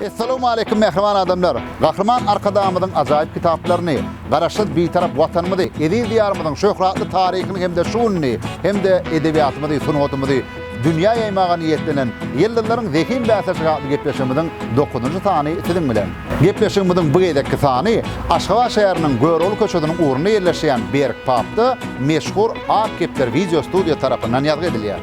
Essalamu aleýkum mähriban adamlar! Gahryman Arkadagymyzyň ajaýyp kitaplaryny, Garaşsyz, Bitarap Watanymyzy, eziz Diýarymyzyň şöhratly taryhyny hem-de şu gününi, hem-de edebiýatymyzy, sungatymyzy dünýä ýaýmaga niýetlenen Ýyldyzlaryň zehin bäsleşigi atly gepleşigimiziň dokuzynjy sany siziň bilen. Gepleşigimiziň bu gezekki sany Aşgabat şäheriniň Görogly köçesiniň ugrunda ýerleşýän Berk pubda meşhur Ak kepder wideostudiýa tarapyndan ýazgy edilýär.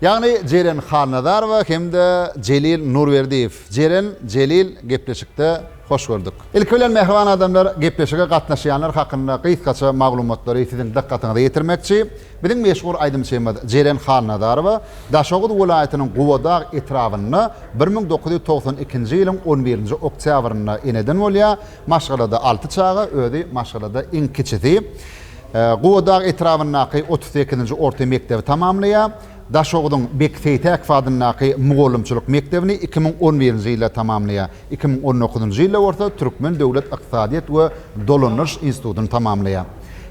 Ýagny Jeren Halnazarowa hem-de Jelil Nurberdiýew. Jeren, Jelil, gepleşikde hoş gördük. Ilki bilen mähriban adamlar, gepleşige gatnaşýanlar hakynda gysgaça maglumatlary siziň dykgatyňyza ýetirmekçi. Biziň meşhur aýdymçymyz Jeren Halnazarowa Daşoguz welaýatynyň Gubadag etrabynda bir müň dokuz ýüz togsan ikinji ýylyň on birinji oktýabrynda eneden bolýar, Maşgalada alty çaga, özi maşgalada iň kiçisi. Gubadag etrabyndaky otuz sekizinji orta mekdebi tamamlaýar. Daşogzuň Bek Seýtäkow adyndaky mugallymçylyk mekdebini iki müň on birinji ýylda tamamlaýar. Iki müň on dokuzynjy ýylda bolsa Türkmen döwlet ykdysadyýet we dolandyryş institutyny tamamlaýar.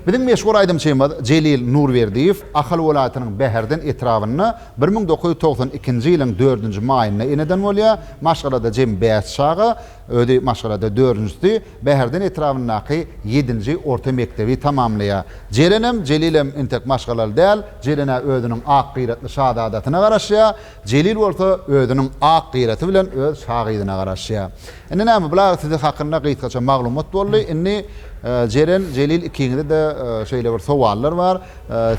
Biziň meşhur aýdymçymyz Jelil Nurberdiýew Ahal welaýatynyň Bäherden etrabynda bir müň dokuz ýüz togsan ikinji ýylyň dördünji maýynda eneden bolýar. Maşgalada jemi bäş çaga. Özi maşgalada dördünjisi, Bäherden etrabyndaky ýedinji orta mekdebi tamamlaýar. Jerenem, Jelilem entek maşgalaly däl, Jelen-ä özüniň ak gyratly şazadasyna garaşýar, Jelil bolsa özüniň ak gyraty bilen öz şa gyzyna garaşýar. Indi näme, bular sizi hakynda gysgaça maglumat boldy. Indi, Jeren, Jelil ikiňize-de şeýle bir sowallar bar.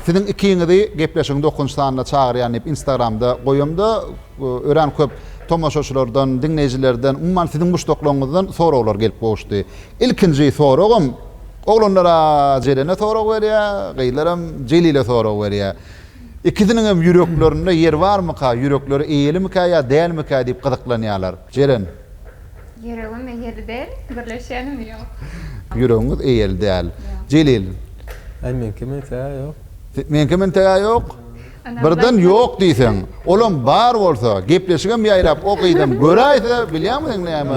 Siziň ikiňizi gepleşigiň dokünji sanyna çagyrýan diýip Instagramda goýamda, Örän köp tomaşaçylardan, diňleýjilerden, umuman siziň muşdaklaryňyzdan soraglar gelip gowuşdy. Ilkinji soragym, oglanlar-a Jelene sorag berýär, gyzlaram Jelile sorag berýär. Ikisiniň hem ýüreklerinde ýer barmyka, ýürekleri eýelimikä ýa dälmikä diýip gyzyklanýarlar. Jelen. Ýüregim eýeli däl, gürleşýänim ýok. Ýüregiňiz eýeli däl. Jelil. Meňkem entegä ýok. Meňkem entegä ýok. Birden ýok diýseň, olam bar bolsa, gepleşigem ýaýrap o gyzam göräýse bilýämiň näme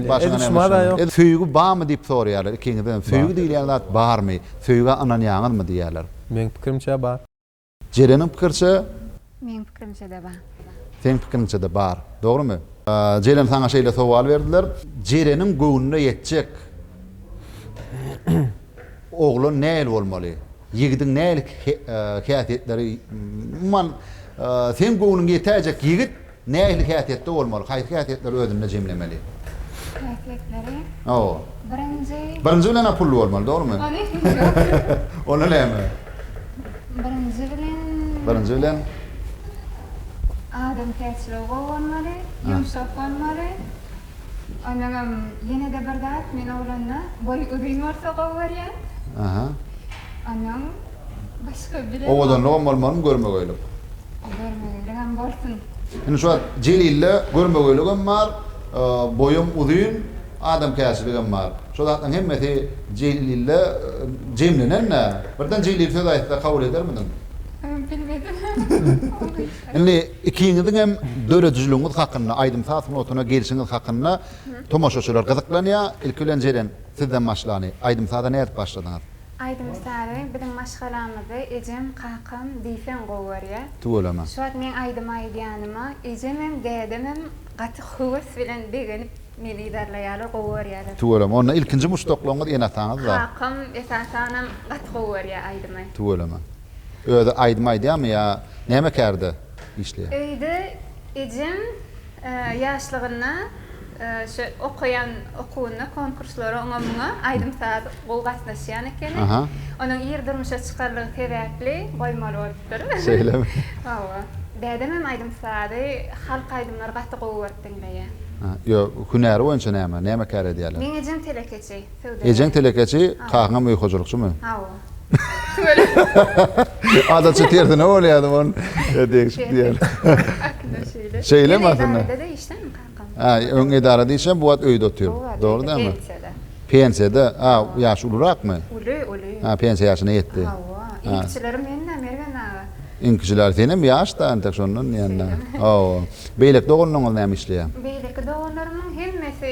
başyňa näme düşenini. Söýgi barmy diýip soraýarlar ikiňizdenem. Söýgi diýilýän zat barmy? Söýgä ynanýaňyzmy diýýärler. Meň pikirimçe bar. Jeleniň pikirçe? Meň pikirimçe-de bar. Seň pikiriňçe-de bar. Dogrymy? Jelen saňa şeýle sowal berdiler. Jeleniň göwnüne ýetjek. Oglan nähili bolmaly? Ýigidiň nähili häsiýetleri umuman seň göwnüňe ýetäýjek ýigit nähili häsiýetde bolmaly? Haýsy häsiýetleri özünde jemlemeli? Häsiýetleri? Hawa. Birinji. Birinji bilen-ä pully bolmaly, dogrumy? Onda näme? Birinji bilen. Birinji bilen. Adamkärçiligi gowy bolmaly, ýumşak bolmaly, Onagam ýenede bir zat men oglanda boýy uzyn bolsa gowy görýän. Aha. Onuň başga bile. Owadanlygam bolmalymy görmegeýlik. Görmegeýligem bolsun. Indi şu wagt Jelilde görmegeýligem bar, boýam uzyn, adamkärçiligem bar. Şo zatlaryň hemmesi Jelilde jemlenen-dä. Birden Jelil söz aýtsa kabul edermidiň? Bilmedim. Indi ikiňiziňem döredijiligiňiz hakynda, aýdym-saz sungatyna gelşiňiz hakynda tomaşaçylar gyzyklanýar. Ilki bilen Jeren, sizden başlaly. Aýdym-saza nädip başladyňyz? Aýdym-sazy biziň maşgalamyzda ejem, kakam diýseň gowy görýär. Tüweleme. Şu wagt meň aýdym aýdýanyma ejemem, dädemem gaty höwes bilen begenip meni yzarlaýarlar, gowy görýärler. Tüweleme. Onda ilkinji muşdaklaryňyz ene-ataňyzda. Kakam esasanam gaty gowy görýär aýdymy. Tüweleme. Özi aýdym aýdýamy ýa näme kärde işleýär. Öýde ejem ýaşlygynda şu okaýan okuwynda konkurslara oňa muňa aýdym saz gowy gatnaşýan ekeni. Onuň ir durmuşa çykarlygy sebäpli goýmaly bolupdyr. Şeýlemi. Hawa. Dädem hem aýdym sazy halk aýdymlary gaty gowy görüp diňleýär. Ýo hünäri boýunça näme näme kär edýärler. Meň ejem telekeçi söwdagär. Ejeň telekeçi kakaňam öý hojalykçymy. Hawa. Adaça tersine bolýardy on degişip diýer. Şeýle mi aslynda? Edarada işlemi kakam? Ha, öň edarada işlem, bu wagt öýde otyr. Dogry dämi? Pensiýada. Pensiýada. A, ýaşy ulurakmy? Uly, uly. Ha, pensiýa ýaşyna ýetdi. Hawa. Iňkiçileri menden Mergen aga. Iňkiçiler senem ýaş-da entek şondan diýende. Hawa. Beýleki doganlaryňyz näme işleýär? Beýleki doganlarymyň hemmesi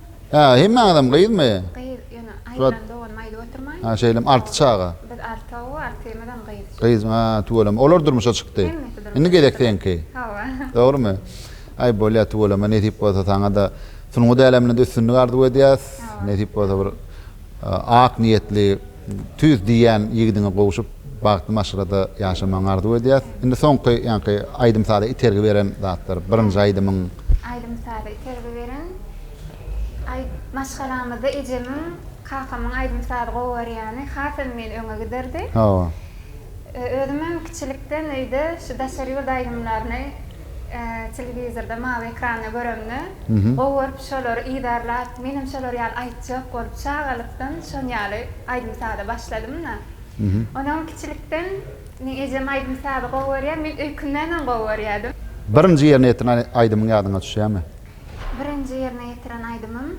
Hä, hemmäňizem gyzmy? Gyz, ýöne aýyrdan dogan maýda oturmaýyn. Hä, şeýlemi? Alty çaga? Biz altow, altymyzam gyz. Gyz, hä, tüweleme. Olar durmuşa çykdy. Hemmesi durmuşa çykdylar. Indi gezek seňki. Hawa. Dogrymy? Aý, bolýar, tüweleme. Nesip bolsa saňa-da sungat äleminde-de üstünlik arzuw edýäs. Hawa. Nesip bolsa bir ak niýetli. Tüýs diýýän ýigidiňe gowşup bagtly maşgalada ýaşamagyňy arzuw edýäs. Indi soňky ýaňky aýdym-saza itergi beren zatlar, birinji aýdymyň. Aýdym-saza itergi beren aý maşgalamyzda ejemiň, kakamyň aýdym-sazy gowarýany hasam meni öňe giderdi. Hawa. Özümem kiçilikden öýde şu daşary ýurt aýdymlaryny Telewizorda mawy ekranda göremde gowy görüp şolary yzarlap menem şolar ýaly aýtjak bolup çagalykdan şon ýaly aýdym saza başladymda. Onam kiçilikden meň ejem aýdym sazy gowy görýär men öýkündenem gowy görýädim. Birinji ýerine ýetiren aýdymyň ýadyňa düşýämi? Birinji ýerine ýetiren aýdymym.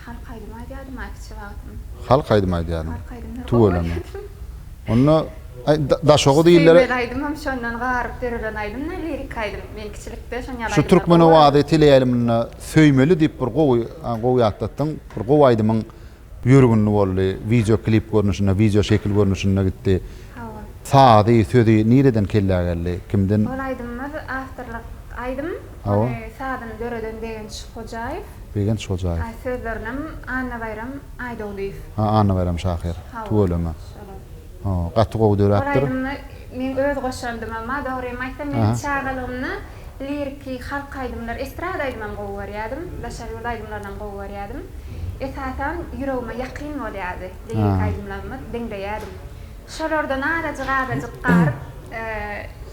Halk aýdymy aýdýardym-a kiçi wagtym. Halk aýdymy aýdýaryn. Halk aýdymlary gowy aýdýardym. Onda daşogy diýilere. Söýmez aýdymym şondan garyp dörelen aýdym-da, liriki aýdym. Men kiçilikde şon ýaly aýdymlar gowy. Şu Türkmen owazy teleýaýlymynda Söýmeli diýip bir gowy, gowy ýatlatdyň. Bir gowy aýdymyň ýörgünli boldy. Wideo klip görnüşinde, wideo şekil görnüşinde gitdi. Hawa. Sazy, sözi nireden kellä geldi? Kimden? Ol aýdymymyz awtorlyk aýdym. Hawa. Ony sazyny döreden Begenç Hojaýew. Begenç Hojaýew. Aý sözlerinem Annabaýram Aýdogdyýew. Ha Annabaýram şahyr. Hawa. Tüweleme. Şolar. Ho, gaty gowy döräpdir. Ol aýdymda meň öz goşandym emma dogrymy aýtsam men çagalygymda liriki halk aýdymlar, estrada aýdymam gowy görýädim, daşary ýurt aýdymlarynam gowy görýädim. Esasan ýüregime ýakyn bolýardy lirik aýdymlarymyz, diňleýädim. Şolardan azajyk-azajyk garyp,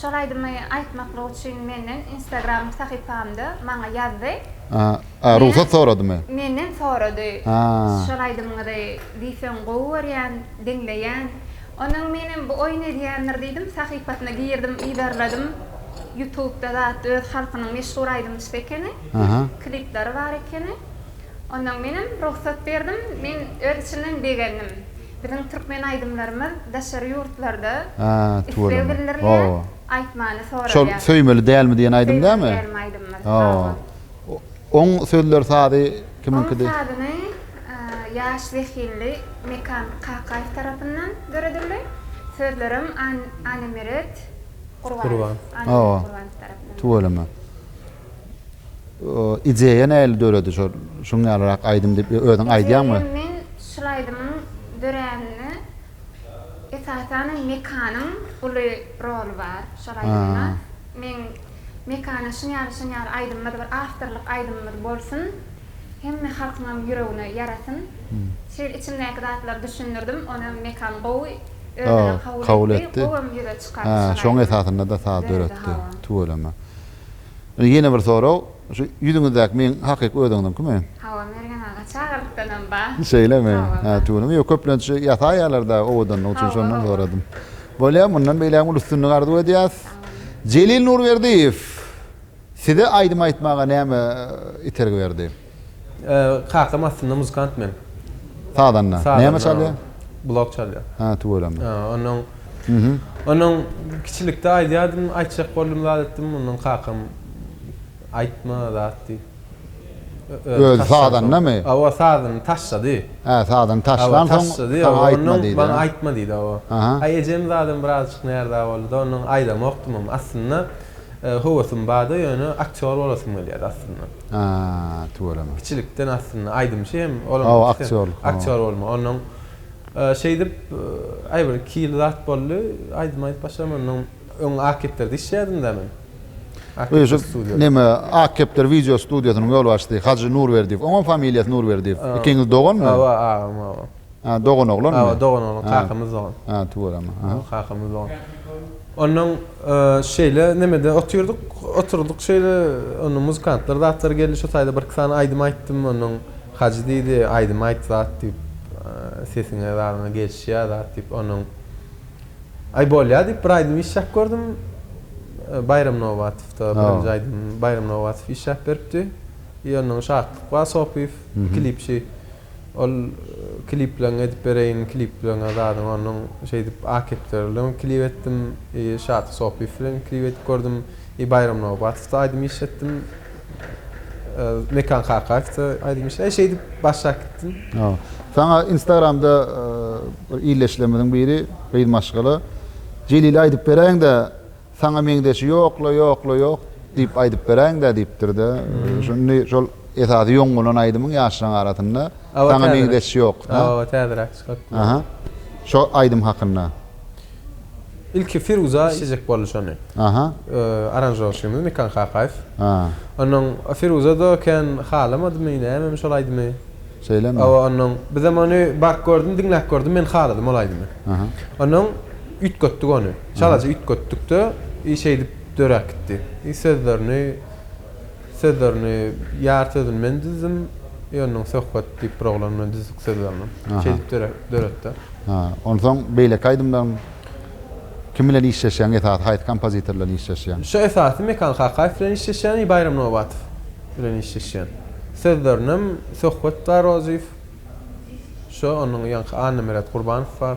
Şol aýdymy aýtmaklyk üçin menden instagram sahypamda maňa ýazdy. A rugsat soradymy? Menden sorady. Şol aýdymyňyzy diýseň gowy görýän, diňleýän. Ondan menem bu oýun edýändir diýdim, sahypasyna girdim, yzarladym. Ýutubda zat öz halkynyň meşhur aýdymçysy ekeni. Klipleri bar ekeni. Ondan menem rugsat berdim. Men öz içimden begendim. Biziň türkmen aýdymlarymyz daşary ýurtlarda isleg bildirilýär, aýtmany soralýar. Söýmeli dälmi diýen aýdym dämi? Söýmeli dälmi aýdymymyz. Hawa. Oň sözleri sazy kimiňkidi? Oň sazyny ýaş zehinli Mekan Kakaýew tarapyndan döredildi. Sözlerem Annemeret Gurbanow tarapyndan. Tüweleme. Ideýa nähili döredi şol şuň ýalyrak aýdym diýip özüň aýdýaňmy? Ideýa men şul aýdymyň döräninde esasan Mekanyň uly roly bar şol aýdymda. Men Mekana şuň ýaly şuň ýaly aýdymymyz bir awtorlyk aýdymymyz bolsun. Hemme halkyňam ýüregine ýarasyn. Şeýle içimdäki zatlary düşündirdim. Onam Mekan gowy özüne kabul etdi. Gowam ýüze çykardy şol aýdym. Şoň esasynda-da saz döretdi. Tüweleme. Indi ýene bir sorag, şu ýüzüňizdäki meň hakyky özüňiziňkimi? Hawa, Mergen aga, çagyrlykdanam bar. Şeýlemi? Hawa, bar. Hä, tüwini, ýok, köplenç ýasaýarlar-da owadanlyk üçin, Hawa, şondan hawa. soradym. Bolýar, mundan beýlägem uly üstünlik arzuw edýäs. Sag boluň. Jelil Nurberdiýew, Size aýdym aýtmaga näme itergi berdi? Kakam aslynda muzykant meniň. Sazanda. Näme çalýar? Blok çalýar. Hä, tüweleme. Hä, onuň Onuň kiçilikde aýdýardym, aýtjak boldum zat etdim, ondan kakam aýtma zat diýip. Özi sazandamy? Hawa, sazandy, taşlady. Hä, sazandy, taşlan soň saňa aýtma diýdi. Maňa aýtma diýdi, hawa. Aý, ejem zadam birazajyk närza boldy-da, ondan aýdamokdym hem. Aslynda höwesim bardy, ýöne aktýor bolasym gelýärdi aslynda. Ha, tüweleme. Kiçilikden aslynda aýdymçy hem olam Hawa, ikisi aktýorlyk, hawa. aktýor bolma. Ondan e, şeýdip e, aý bir iki ýyl zat boldy. Aýdym aýdyp başladym ondan öň Akepderde işleýärdim-de men. Akepder Öýşüp studio. neme Akepdir wideo studiýasynyň ýolbaşçysy Hajy Nurberdiýew. Oňam familiýasy Nurberdiýew. Ikiňiz doganmy? Hawa, agam, hawa. Ha, doganoglanmy? Hawa, doganoglan, kakamyz dogan. Ha, tüweleme. Hawa, kakamyz dogan. Onnoň şeýle nemede otyrdyk, oturdyk şeýle, onnoň muzykantlar zatlar geldi, şo taýda bir-iki sany aýdym aýtdym, onnoň Hajy diýdi, aýdym aýt zat diýip, sesiňe zadyňa gelişýär zat diýip, onnoň Aý, bolýar diýip, bir aýdym işläp gördüm. Baýram Nobatowda birinji aýdymym, Baýram Nobatow işläp beripdi. I onnoň Şatlyk bar Sopyýew, klipçi. Ol klipleriňi edip bereýin klipleriňe zadyň onuň şeýdip akepleri bilen klip etdim i şaty sopyýew bilen klip edip gördüm i baýram nobatowa aýdym iş etdim mekan kakaýewde aýdym iş e şeýdip başlap gitdim. Hawa. Saňa instagramda bir illeşilerimiziň biri gyz maşgala Jelile aýdyp beräýiňdä Saňa meňzeşi ýok-la, ýok-la, ýok! diýip aýdyp beräýiň-dä, diýipdir-de. Şuny şol esasy ýoň bolan aýdymyň ýaşlaryň arasynda Saňa meňzeşi ýok. Hawa, täzeräk çykypdyr. Aha. Şo aýdym hakynda. Ilki Firuza işlejek boldy şony. Aha. Aranžowşymyz Mekan Kakaýew. Ha. Onnoň Firuza-da kän halamadymy, nämemi şol aýdymy? Şeýlemi? Hawa, onnoň bizem ony baryp gördüm, diňläp gördüm, men haladym ol aýdymy. Aha. Onnoň üýtgetdik ony. Çalaja üýtgetdik-de, i şeýdip döräp gitdi. I sözlerini, sözlerini ýar sözüni men düzdüm, i onnoň Söhbet diýip bir oglan bilen düzdük sözlerini. Şeýdip döretdi. Ha, onsoň beýleki aýdymlaryň kim bilen işleşýäň, esasy haýsy kompozitor bilen işleşýäň? Şu esasy Mekan Kakaýew bilen işleşýän i Baýram Nobatow bilen işleşýän. Sözlerinem Söhbet Garoziýew, şo, onnoň ýaňky Annamyrat Gurbanow bar.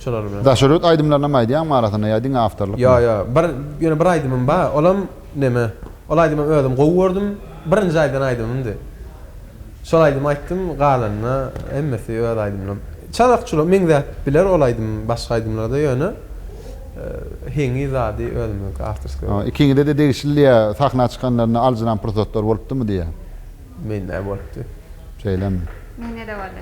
Şolar bilen. Daşöret aýdymlarynam aýdýaňmy arasynda ýa diňe awtorlykmy? Ýok ýok. Bir ýöne bir aýdymym bar. Olam neme? Ol aýdymam özüm gowy gördüm. Birinji aýdan aýdymymdy. Şol aýdymy aýtdym, galanyna hemmesi öz aýdymlarym. Çalakçylar meňzäp biler ol aýdym başga aýdymlarda ýöne heňi zady özümiňki awtorskiý bolýar. Ikiňizede degişlidi ýa sahna çykanlarynda aljyran pursatlar bolupdymy diýýän. Mende bolupdy. Şeýlemi? Mende-de boldy.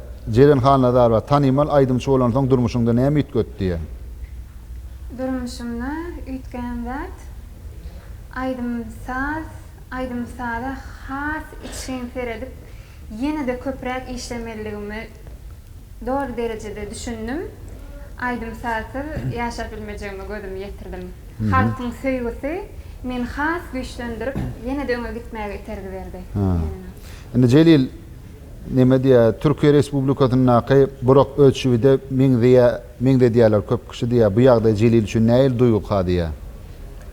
Jeren Hannazarowa, Tanymal aýdymçy bolansoň durmuşyňda näme üýtgetdiň? Durmuşymda üýtgän zat, aýdym-saz, aýdym-saza has içgin seredip, ýene-de köpräk işlemelidigime doly derejede düşündim. Aýdym-sazsyz ýaşap bilmejegime gözümi ýetirdim. Halkyň söýgüsi meni has güýçlendirip, ýene-de öňe gitmäge itergi berdi. Indi Jelil. Neme diýýär, Türkiýe Respublikasyndaky Burak Özçiwide meňzeýär, meňzedýärler köp kişi diýýär. Bu ýagdaý Jelil üçin nähili duýgy kadýýär?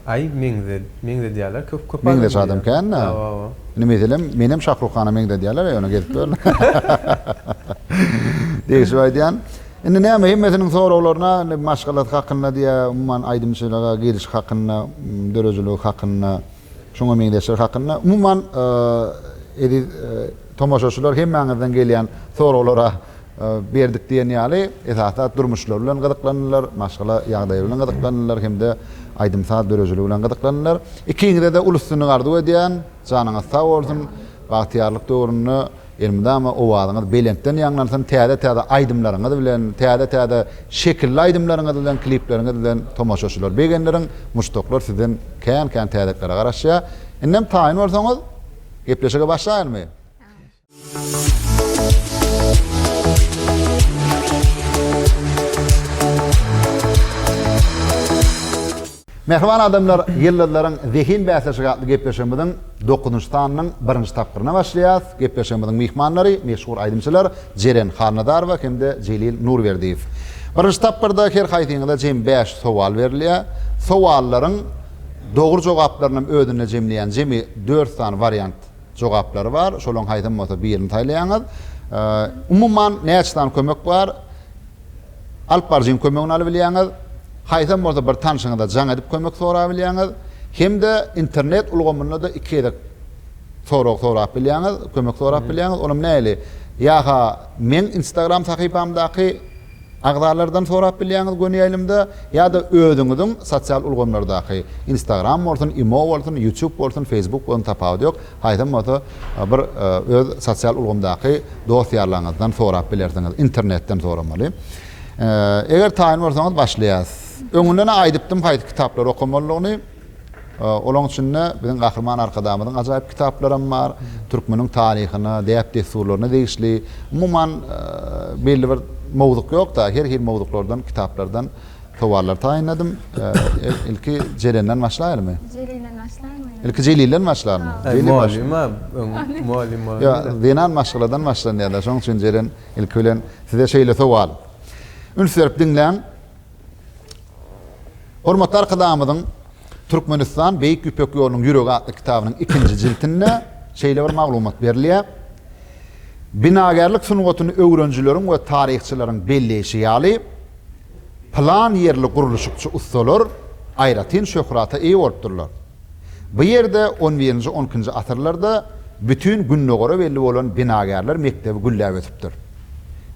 Aý, meňze, meňzedýärler köp, köp adam Meňzeş adam diýýär. kän-ä. Aw, aw, aw. Indi, meselem, menem Şahrukhana meňzedýärler-eý, ony gezip gör. Degşip aýdýan. Indi näme, hemmesiniň soraglaryna, indi maşgalasy hakynda diýýär, umuman aýdymçylyga girişi hakynda, dörejiligi hakynda. Şuňa meňzeşler hakynda umuman eziz tomaşaçylar hemmäňizden gelýän soraglara berdik diýen ýaly esasy zat durmuşlary bilen gyzyklandylar, maşgala ýagdaýy bilen gyzyklandylar hem-de aýdym-saz dörejiligi bilen gyzyklandylar. Ikiňize-de uly üstünlik arzuw edýän, janyňyz sag bolsun, bagtyýarlyk döwründe Elmydama owazyňyz belentden ýaňlansyn täze täze aýdymlaryňyz bilen täze täze şekilli aýdymlaryňyz bilen klipleriňiz bilen tomaşaçylar begendirin muşdaklar sizden kän kän täzetlere garaşýa indem taýyn bolsaňyz gepleşige başlaýylmy. Mähriban adamlar, Ýyldyzlaryň zehin bäsleşigi atly gepleşigimiziň dokuzynjy sanynyň birinji tapgyryna başlaýarys. Gepleşigimiziň myhmanlary, meşhur aýdymçylar Jeren Halnazarowa hem-de Jelil Nurberdiýew. Birinji tapgyrda her haýsyňyza jemi bäş sowal berilýär. Sowallaryň dogry jogaplarynam özünde jemleýän jemi dört sany wariant jogaplary bar. Şolaryň haýsam bolsa birini saýlaýaňyz. Umuman näçe sany kömek bar? alyp baryjyň kömegini alybilýäňiz, haýsam bolsa bir tanşyňyza jaň edip kömek sorabilýäňiz, hem-de internet ulgamynda-da iki gezek sorag sorap bilýäňiz, kömek sorap bilýäňiz, olam nähili? Ýa-ha meň Instagram sahypamdaky agzalardan sorap bilýäňiz göni ýaýlymda, ýa-da özüňiziň sosial ulgamlardaky, Instagram bolsun, Imo bolsun, Ýutýub bolsun, Feýsbuk bolsun tapawudy ýok, Haýsam bolsa bir öz sosial ulgamdaky dost-ýarlaryňyzdan sorap bilersiňiz, internetden soramaly. Eger taýyn bolsaňyz başlaýas. Öňünden-ä aýdypdym haýsy kitaplary okamalydygyny. Olaň içinde biziň Gahryman Arkadagymyzyň ajaýyp kitaplaram bar, türkmeniň taryhyna, däp-dessurlaryna degişli, umuman belli bir mowzuk ýok-da, her hil mowzuklardan, kitaplardan Sowallary taýynladym. Ilki Jelenden başlaýalymy? Jelilden başlaýalymy? Ilki Jelilden başlalymy? Jelil başla. Mugallym, mugallym bar. Ýa, zenan maşgaladan başlanýar-da. Şonuň üçin Jelen ilki bilen size şeýle sowal. Üns berip diňläň. Hormatly Arkadagymyzyň Türkmenistan, Beýik Ýüpek ýolunyň ýüregi atly kitabynyň ikinji jiltinde şeýle bir maglumat berilýär. Binagärlik sungatyny öwrenijileriň we taryhçylaryň belleýşi ýaly, Pylan ýerli gurluşykçy ussalar aýratyn şöhrata eýe bolupdyrlar. Bu ýerde on birinji on ikinji asyrlarda bütin Gündogara belli bolan binagärler mekdebi gülläp ösüpdir.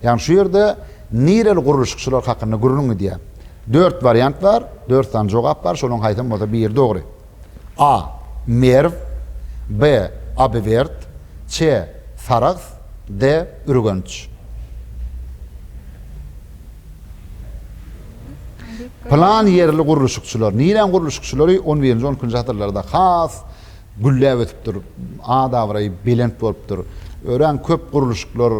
Ýagny şu ýerde nireli gurluşykçylar hakynda gürrüň gidýär. Dört wariant bar, dört sany jogap bar, şolaryň haýsam bolsa biri dogry. A. Merw, B. Abiwerd, C. Sarahs, D. Ürgenç. Pylan ýerli gurluşykçylar. Niräň gurluşykçylary on birinji, on ikinji asyrlarda has gülläp ösüpdir, at-abraýy belent bolupdyr. Örän köp gurluşyklar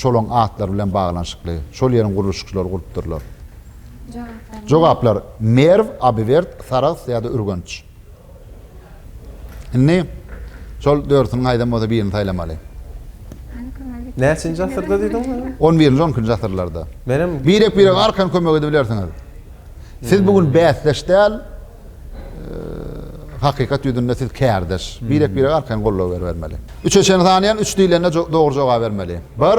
şolaryň atlary bilen baglanyşykly. Şol ýeriň gurluşykçylary gurupdyrlar. Jogaplar, Merw, Abiwerd, Sarahs ýa-da Ürgenç. Indi şol dörsüniň haýsam bolsa birini saýlamaly. Näçinji asyrda diýdiňiz indi? On birinji, on ikinji asyrlarda. Menem Birek-birege arkan kömek edibilersiňiz. Siz bu gün bäsdeş däl, hakykat ýüzünde siz kärdeş. Birek-birege arkaýyn goldaw beribermeli. Üçe çenli sanaýan, üç diýlende dogry jogaby bermeli. Bir.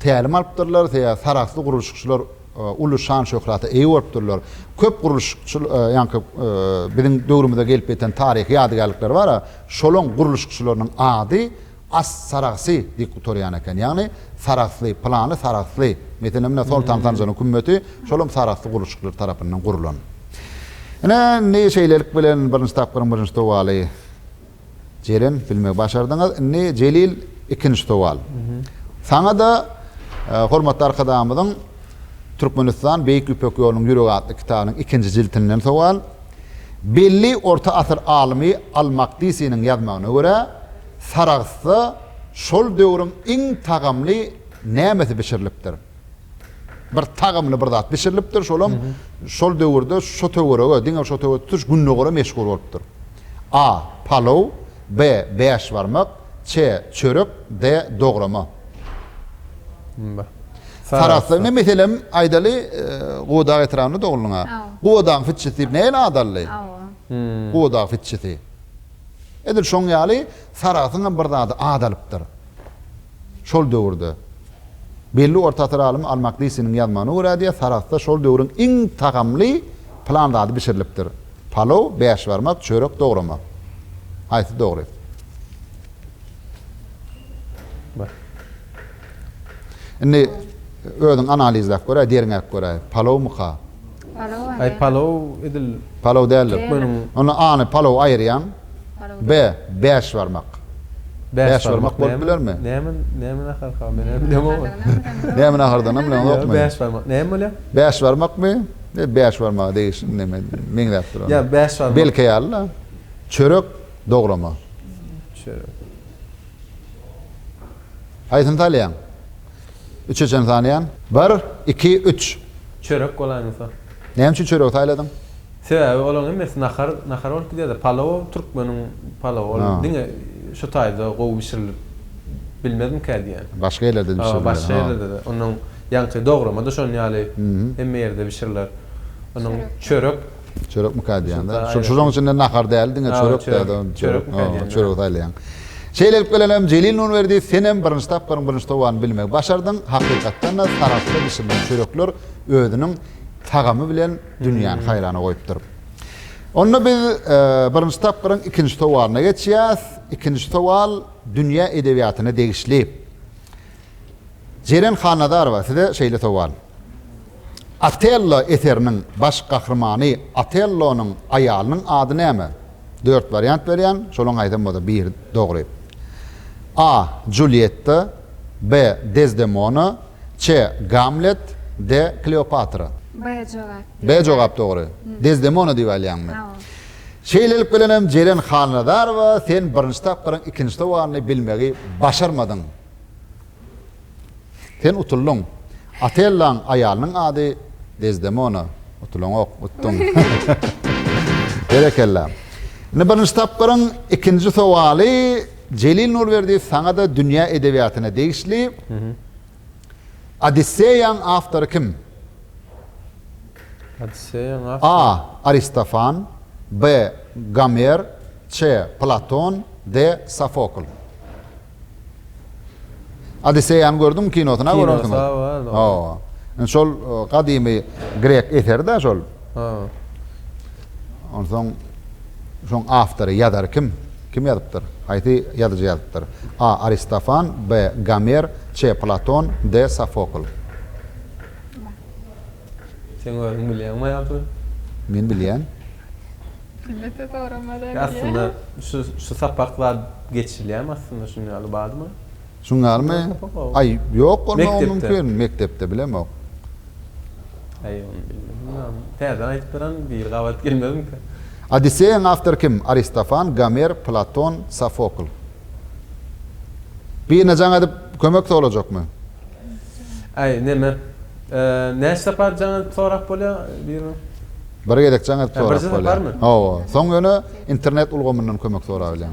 tälim alypdyrlar, seýa sarahsly gurluşykçylar uly şan-şöhrata eýe bolupdyrlar. Köp gurluşykçy ýaňky biziň döwrümize gelip ýeten taryhy ýadygärlikler bar-a, şolaň gurluşykçylarynyň ady As Saragsy diýip gutarýan eken. Ýagny Saragsly, pylany Saragsly. Meselem, ine, Soltan Sanjanyň kümmeti şolam Saragsly gurluşykçylar tarapyndan gurlan. Ine, indi şeýlelik bilen birinji tapgyryň birinji sowaly. Jeren bilmegi başardyňyz. Indi Jelil ikinji sowal. Saňa-da hormatly Arkadagymyzyň Türkmenistan, Beýik Ýüpek ýolunyň ýüregi atly kitabynyň ikinji jiltinden sowal. Belli orta asyr alymy Al-Makdisiniň ýazmagyna görä, Sarahsda şol döwrüň iň tagamly nämesi bişirilipdir? Bir tagymly bir zat bişirilipdir, şolam şol döwürde şo töwerege, diňe şo töwerege tutuş Gündogara meşhur bolupdyr. A. Palow, B. Bäşbarmak, C. Çörek, D. Dograma. Mba. Sarahsda ine meselem aýdaly Gubadag etrabynda doguldyň a. Gubadagyň fitçisi diýip nähili at aldy? Gubadag fitçisi. Edil şoň ýaly Sarahsyň hem bir zady at alypdyr. Şol döwürde, belli orta asyr alymy Al-Makdisiniň ýazmagyna görä diýýär, Sarahsda şol döwrüň iň tagamly pylan zady bişirilipdir. Palow, bäşbarmak, çörek dogramak. Haýsy dogry? Bar. Indi özüň analizläp göräý, derňäp göräý. Palowmyka? Palow a Aý palow edil. Palow däldir. Meniň. Onda A-ny palow aýyrýaň. Palow B. Bäş barmak. Bäş barmak bolup bilermi? Näme näme naharka menem bilemok ony. Näme nahardanam bileňokmy? Ýok bäş barmak. Näme bolýa? Bäş barmakmy? Ýa bäş barmaga degişli näme meňzäp dur onda. Ýa bäş barmak. Belkä ýaly-la. Çörek dograma. Çörek. Haýsyny saýlaýaň? Üçe çen sanýan. Bir, iki, üç. Çörek bolaýmasa. Näme üçin çöregi saýladyň? Sebäbi olaryň hemmesi nahar, nahar bolup gidýär-de. Palow, türkmeniň palowy. Ol diňe şu taýda gowy bişirilip bilmezmikä diýýän. Başga ýerlerde-de bişirilýär. Hawa, başga ýerlerde-de. Onnoň ýaňky dograma-da şonuň ýaly hemme ýerde bişiriler. Onnoň çörek. Çörekmika diýýäňde. Şu şunuň içinde nahar däl diňe çörek däde. Çörek. Çörek saýlaýaň. Şeýle edip gelenem Jelil Nurberdi senem birinji tapgyryň birinji towany bilmegi başardyň. Hakykatdan-da sarahsda bişirilen çörekler özüniň tagamy bilen dünýäni haýrana goýupdyr. Onda biz birinji tapgyryň ikinji towaryna geçýäs. Ikinji towal dünýä edebiýatyna degişli. Jeren Hannazarowa size şeýle sowal. Otello eseriniň baş gahrymany Otellonyň aýalynyň ady näme? Dört wariant berýän, şolaryň haýsam bolsa biri dogry. A. Julietta B. Dezdemona C. Gamlet D. Kleopatra. B jogap. B jogap dogry. Dezdemona diýip alýaňmy? Hawa. Şeýlelik bilenem Jeren Halnazarowa sen birinji tapgyryň ikinji sowalny bilmegi başarmadyň. Sen utuldyň. Otellaň aýalynyň ady Dezdemona. Utulaňok, utduň. Berekella. Indi birinji tapgyryň ikinji sowaly Jelil Nurberdiýew saňa-da dünýä edebiýatyna degişli. Odisseýaň awtory kim? Odisseýaň awtory. A. Aristofan, B. Gomer, C. Platon, D. Sofokl. Odisseýany gördüňmi kinosyny görersiň. Kinosa bar dogry. Hawa. Şol gadymy grek eseri-dä şol. Hawa. Onsoň şoň awtory, ýazary kim? Kim ýazypdyr? Haýsy ýazyjy ýazypdyr? A. Aristofan, B. Gomer, C. Platon, D. Sofokl. Seň özüň bilýäňmi ýagşy? Men bilýän. Millete soramadan bilýän. Aslynda şu şu sapak zat geçilýämi aslynda şuny ýaly barmy? Şuň ýalymy? Aý, ýok bolmagy mümkin, mekdepde bilemok. Aý, ony bilmän munam täzeden aýdyp beräň, biri gabat gelmezmika? Odisseýaň awtory kim? Aristofan, Gomer, Platon, Sofokl. Birine jaň edip kömek sorajakmy? Aý, neme? Näçe sapar jaň edip sorap bolýar birine? Bir gezek jaň edip sorap bolýar. Hawa, soň ýöne internet ulgamyndan kömek sorabilýäň.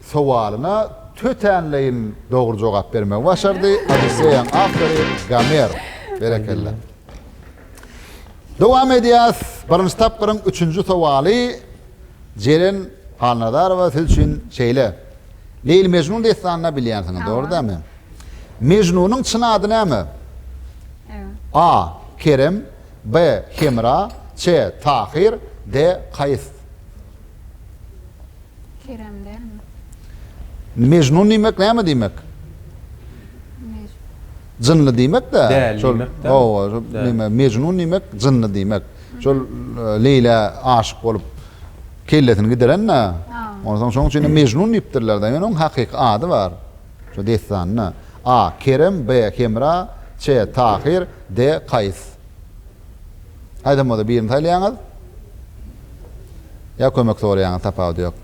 sowalyna tötänleýin dogry jogap bermegi başardy. Odisseýaň awtory Gomer. Berekella. Dowam edýäs. Birinji tapgyryň üçünji sowaly Jeren Halnazarowa siz üçin şeýle. Leýli-Mežnun dessanyny bilýänsiňiz, dogry dälmi? Mežnunyň çyn ady näme? A. Kerem B. Hemra C. Tahyr D. Kaýys. Kerem dälmi? Mejnun diýmek näme diýmek? Jynly diýmek-de. Däli diýmek-de. Hawa, näme, mejnun diýmek jynly diýmek. Şol e, Leýla aşyk bolup kellesini gideren-de. Onsoň şoň üçin mejnun diýipdirler-de. Ýöne onuň hakyky ady bar. Şu dessanda. A. Kerem, B. Hemra, C. Tahyr, D. Kaýs. Haýsam bolsa birini saýlaýaňyz ýa kömek soraýaňyz tapawudy ýok.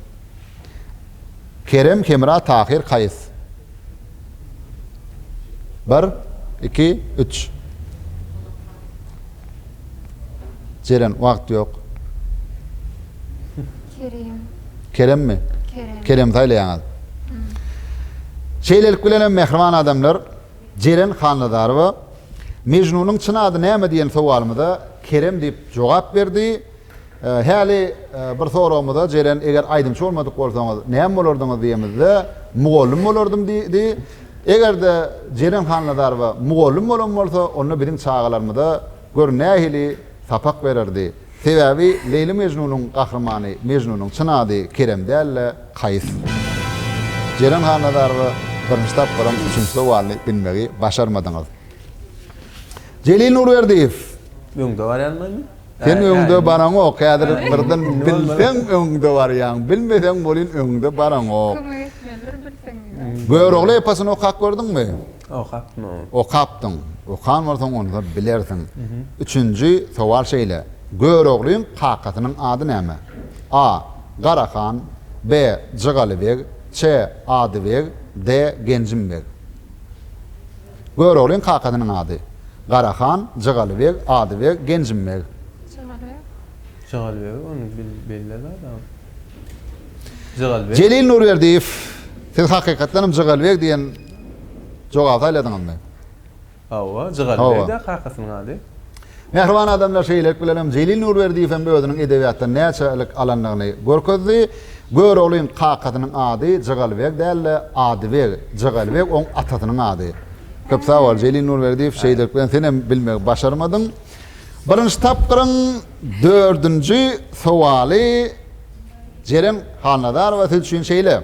Kerem Hemra Tahyr Kaýys. Bir, iki, üç. Jeren wagt ýok. Kerem. Keremmi? Kerem. Kerem saýlaýaňyz. Şeýlelik bilenem mähriban adamlar. Jeren Hannazarowa, Mejnunyň çyn ady näme diýen sowalymyza Kerem diýip jogap berdi. Häli bir soragymyza Jeren eger aýdymçy bolmadyk bolsaňyz näme bolardyňyz diýemizde mugallym bolardym diýdi. Eger-de Jeren Hannazarowa mugallym bolan bolsa onda biziň çagalarymyza Gör nähili sapak bererdi. Sebäbi Leýli-Mežnunyň gahrymany Mežnunyň çyn ady Kerem däl-de, Kaýys. Jeren Hannazarowa birinji tapgyram üçünji sowalyny bilmegi başarmadyňyz. Jelil Nurberdiýew. Öňde barýanmymy? Sen öňde baraňok. Häzir birden bilseň öňde barýaň, bilmeseň welin öňde baraňok. Kömek etmelidir bilseň diýip. Görogly eposyny okap gördüňmi? Okapmy? Okapdyň. Okan bolsaň onda bilersiň. Üçünji sowal şeýle, Göroglyň kakasynyň ady näme? A. Garahan B. Jygaly beg Ç. Ady beg D. Genjim beg Göroglyň kakasynyň ady, Garahan, Jygaly beg, Ady beg, Genjim beg. Jygaly beg. Jygaly beg ony belle zat a. Jygaly beg. Jelil Nurberdiýew, siz hakykatdanam Jygaly beg diýen Jogap saýladyňyzmy? Hawa, Jygaly beg-dä kakasynyň ady. Mähriban adamlar şeýlelik bilenem Jelil Nurberdiýewem özüniň edebiýatdan näçelik alandygyny görkezdi. Göroglyň kakasynyň ady Jygaly beg däl-de, ady beg. Jygaly beg oň atasynyň ady. Köp sag bol, Jelil Nurberdiýew, şeýlelik bilen senem bilmegi başarmadyň. Birinji tapgyryň dördünji sowaly Jeren Halnazarowa siz üçin şeýle.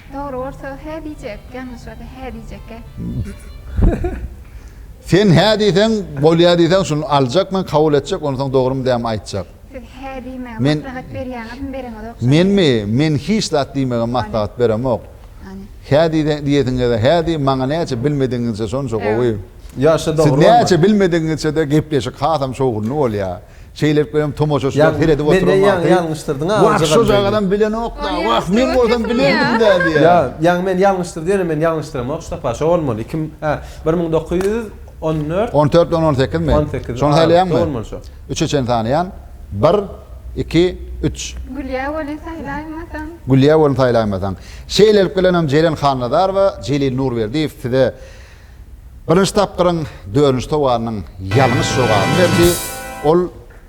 Dogry bolsa hä diýjek, ýalňyş bolsa hä diýjekkä. Sen hä diýseň, bolýar diýseň, şuny aljak men, kabul etjek, onsoň dogrymy dämi aýtjak. Siz hä diýmegi maslahat berýäňizmi, bereňizok şony. Menmi? Men hiç zat diýmegem maslahat beremok. Hä diýesiňize hä diý, maňa näçe bilmedigiňizçe şonça gowy. Ýaşy dogry bolmaly. Siz näçe bilmedigiňizçe-de gepleşik hasam şowhunly bolýar. Şeýlelikde hem tomaşaçylar seredip oturan wagty, Wah, şojagalam bilenok-da, wah, men bolsam bilerdim-dä diýýär. Ýaňy men ýalňyşdyr diýerin, men ýalňyşdyramok, ştapa, şo bolmaly, iki müň, hä, bir müň dokuz ýüz on dört. On dört bilen on sekizmi? On sekiz, şony saýlaýaňmy? Şo bolmaly, şo. Üçe çen sanaýan, bir, iki, üç. Gülýä welin saýlaýmasaň. Gülýä welin saýlaýmasaň. Şeýlelik bilen hem Jeren Hannazarowa, Jelil Nurberdiýew size Birinji tapgyryň dördünji sowalynyň ýalňyş jogabyny berdi. Ol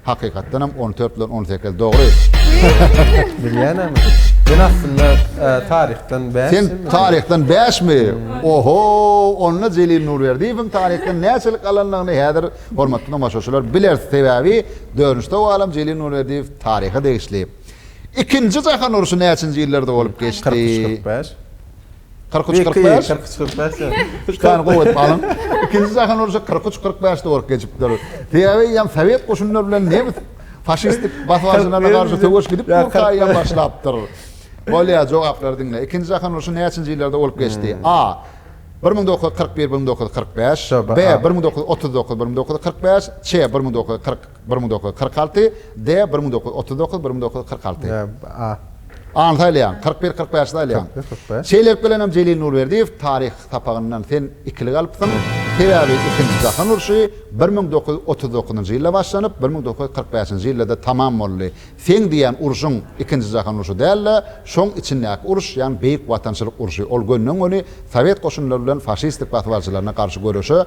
hakykatdan hem on dört bilen on sekiz dogry. Bilýänämi? Men aslynda taryhdan bäş. Sen taryhdan bäşmi? Oho, onda Jelil Nurberdiýewiň taryhdan näçelik galandygyny häzir hormatly tomaşaçylar bileris. Sebäbi dördünji sowalym Jelil Nurberdiýew taryha degişli. Ikinji jahan urşy näçinji ýyllarda bolup geçdi? Kyrk üç, kyrk bäş. 43-45. 43-45. Üç sany gowy edip alyň. Ikinji jahan urşy 43-45-de bolup geçipdir. Sebäbi ýa sowet goşunlary bilen nemes faşistik basybalyjylaryna garşy söweş gidip dur taýýar başlapdyr. Bolýar, jogaplary diňle. Ikinji jahan urşy näçinji ýyllarda bolup geçdi? A. Bir müň dokuz ýüz kyrk bir-bir müň dokuz ýüz kyrk bäş. B. Bir müň dokuz ýüz otuz dokuz-bir müň dokuz ýüz kyrk bäş. Ç. Bir müň dokuz ýüz kyrk. Bir müň dokuz ýüz kyrk alty, D. Bir müň dokuz ýüz otuz dokuz, bir müň dokuz ýüz kyrk alty. A. A-ny saýlaýaň. Kyrk bir, kyrk bäşi saýlaýaň. Kyrk bir, kyrk bäş. Şeýlelik bilenem Jelil Nurberdiýew taryh sapagyndan sen ikilik alypsyň. Sebäbi Ikinji jahan urşy bir müň dokuz ýüz otuz dokuzynjy ýylda başlanyp, bir müň dokuz ýüz kyrk bäşinji ýylda-da tamam boldy. Seň diýýän urşuň Ikinji jahan urşy däl-de, şoň içindäki uruş, ýagny Beýik Watançylyk urşy. Ol gönden-göni sowet goşunlary bilen faşistlik basybalyjylaryna garşy göreşe,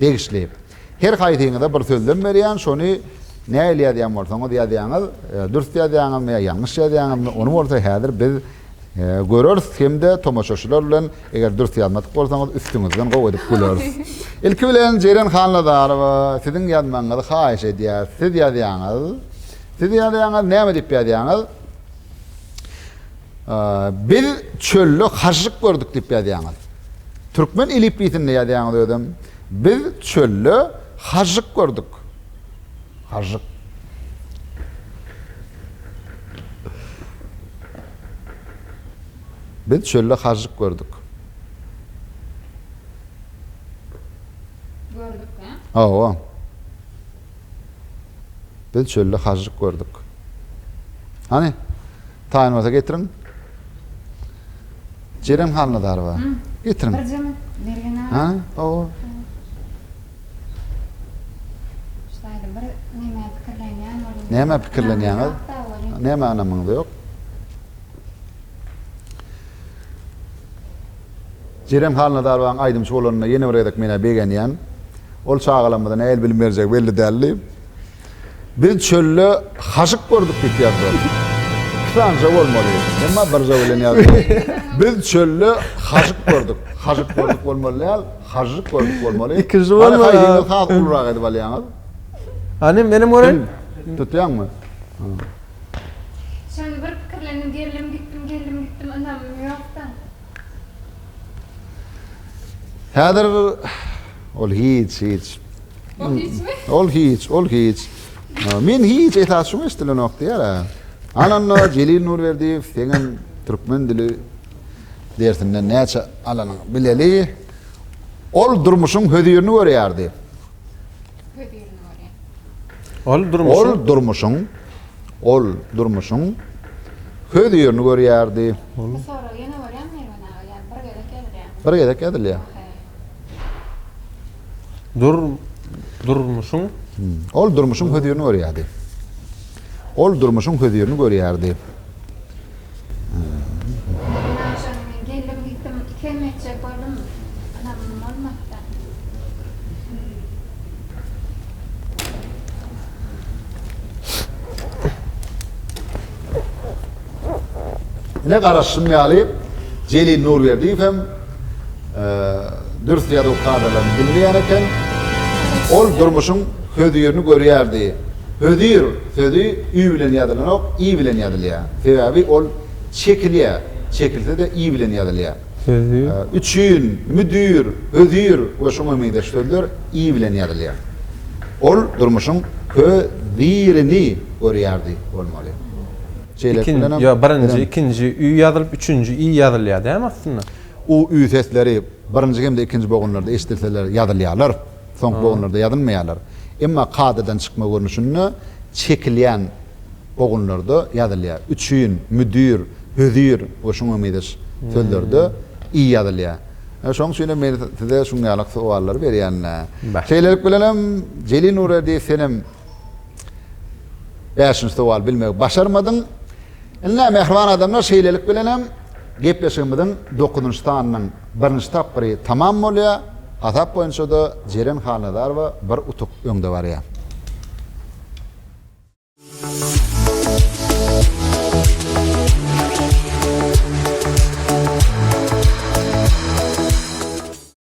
degişli. Her haýsyňyza bir sözlem berýän, şony nähili ýazýan bolsaňyz ýazýaňyz, dürs ýazýaňyzmy ýa ýalňyş ýazýaňyzmy, ony bolsa häzir biz göreris hem-de tomaşaçylar bilen eger dürs ýazmadyk bolsaňyz üstüňizden gowy edip güleris. Ilki bilen Jeren Hannazarowa siziň ýazmagyňyzy haýyş edýäris. Siz ýazýaňyz. Siz ýazýaňyz, näme diýip ýazýaňyz? Biz çölde hažžyk gördük diýip ýazýaňyz. Türkmen elipliýsinde ýazýaňyz özem. Biz çölde hažžyk gördük. Hažžyk. Biz çölde hažžyk gördük. Gördük, hä? Hawa. Biz çölde hažžyk gördük. Hany, taýyn bolsa getiriň. Jeren Halnazarowa. Getiriň. Bir jemik Mergen aga. Ha, owa. Şaýda bir näme pikirlenýän bolýan. Näme pikirlenýäňiz? Näme anamyňyz ýok? Jeren Halnazarowaň aýdymçy bolanyna ýene bir gezek men-ä begenýän. Ol çagalarymyza nähili bilim berjegi belli däldi. Biz çölde haşyk gördük diýip ýazdylar. Iki sanyja bolmaly, emma birja bilen ýazdylar. Biz çölde haşyk gördük. Haşyk gördük bolmaly däl, hažžyk gördük bolmaly. Ikinji bolmaly. Hany haýdyňyz has ulurak edip alýaňyz. Hany menem göreýin. Tutýaňmy? Şonda bir pikirlendim, geldim gitdim, geldim gitdim, ynamym ýok-da. Häzir ol hiç, hiç. Ol hiçmi? Ol hiç, ol hiç. Men hiç esas şuňa eşdilenok diýär. Ananda Jelil Nurberdiýew seňem türkmen dili dersinden näçe alanyňy bileli. Ol durmuşyň hözirini görýärdi. Ol durmuşyň Ol durmuşyň köz ýerini görýärdi. Bu sorag ýene borýarmy Mergen aga ýa bir gezek ýazylýarmy? Bir gezek ýazylýar. Dur durmuşyň Ol durmuşyň köz ýerini görýärdi. Ol durmuşyň köz ýerini görýärdi. Ine garaşşym ýaly Jelil Nurberdiýew hem dürs ýazuw kadalaryny diňleýän eken. Ol durmuşyň hözirini görýärdi. Hözir sözi ü bilen ýazylanok, i bilen ýazylýar. Sebäbi ol çekilýär. Çekilse-de i bilen ýazylýar. Hözir. Üçin, müdir, hözir we şuňa meňzeş sözler i bilen ýazylýar. Ol durmuşyň hö-zi-rini görýärdi bolmaly. Çeýlek Ikin, bilenem. ýo, birinji, Bilen. ikinji ü ýazylyp, üçünji i ýazylýar dämi aslynda? U, ü sesleri birinji hem-de ikinji bogunlarda eşidilseler ýazylýarlar. Soňky Ha. bogunlarda ýazylmaýarlar. Emma kadadan çykma görnüşinde çekilýän bogunlarda ýazylýar. Üçin, müdir, hözir we şuňa meňzeş sözlerde i ýazylýar. Ine, şoň üçin hem men size şuňňalyk sowallary berýän-le. Bar. Şeýlelik bilenem Jelil Nurerdiýew senem Bäşinji sowal bilmegi başarmadyň. Ine, mähriban adamlar, şeýlelik bilen hem gepleşigimiziň dokuzynjy sanynyň birinji tapgyry tamam bolýar. Hasap boýunça-da Jeren Halnazarowa bir utuk öňde barýar.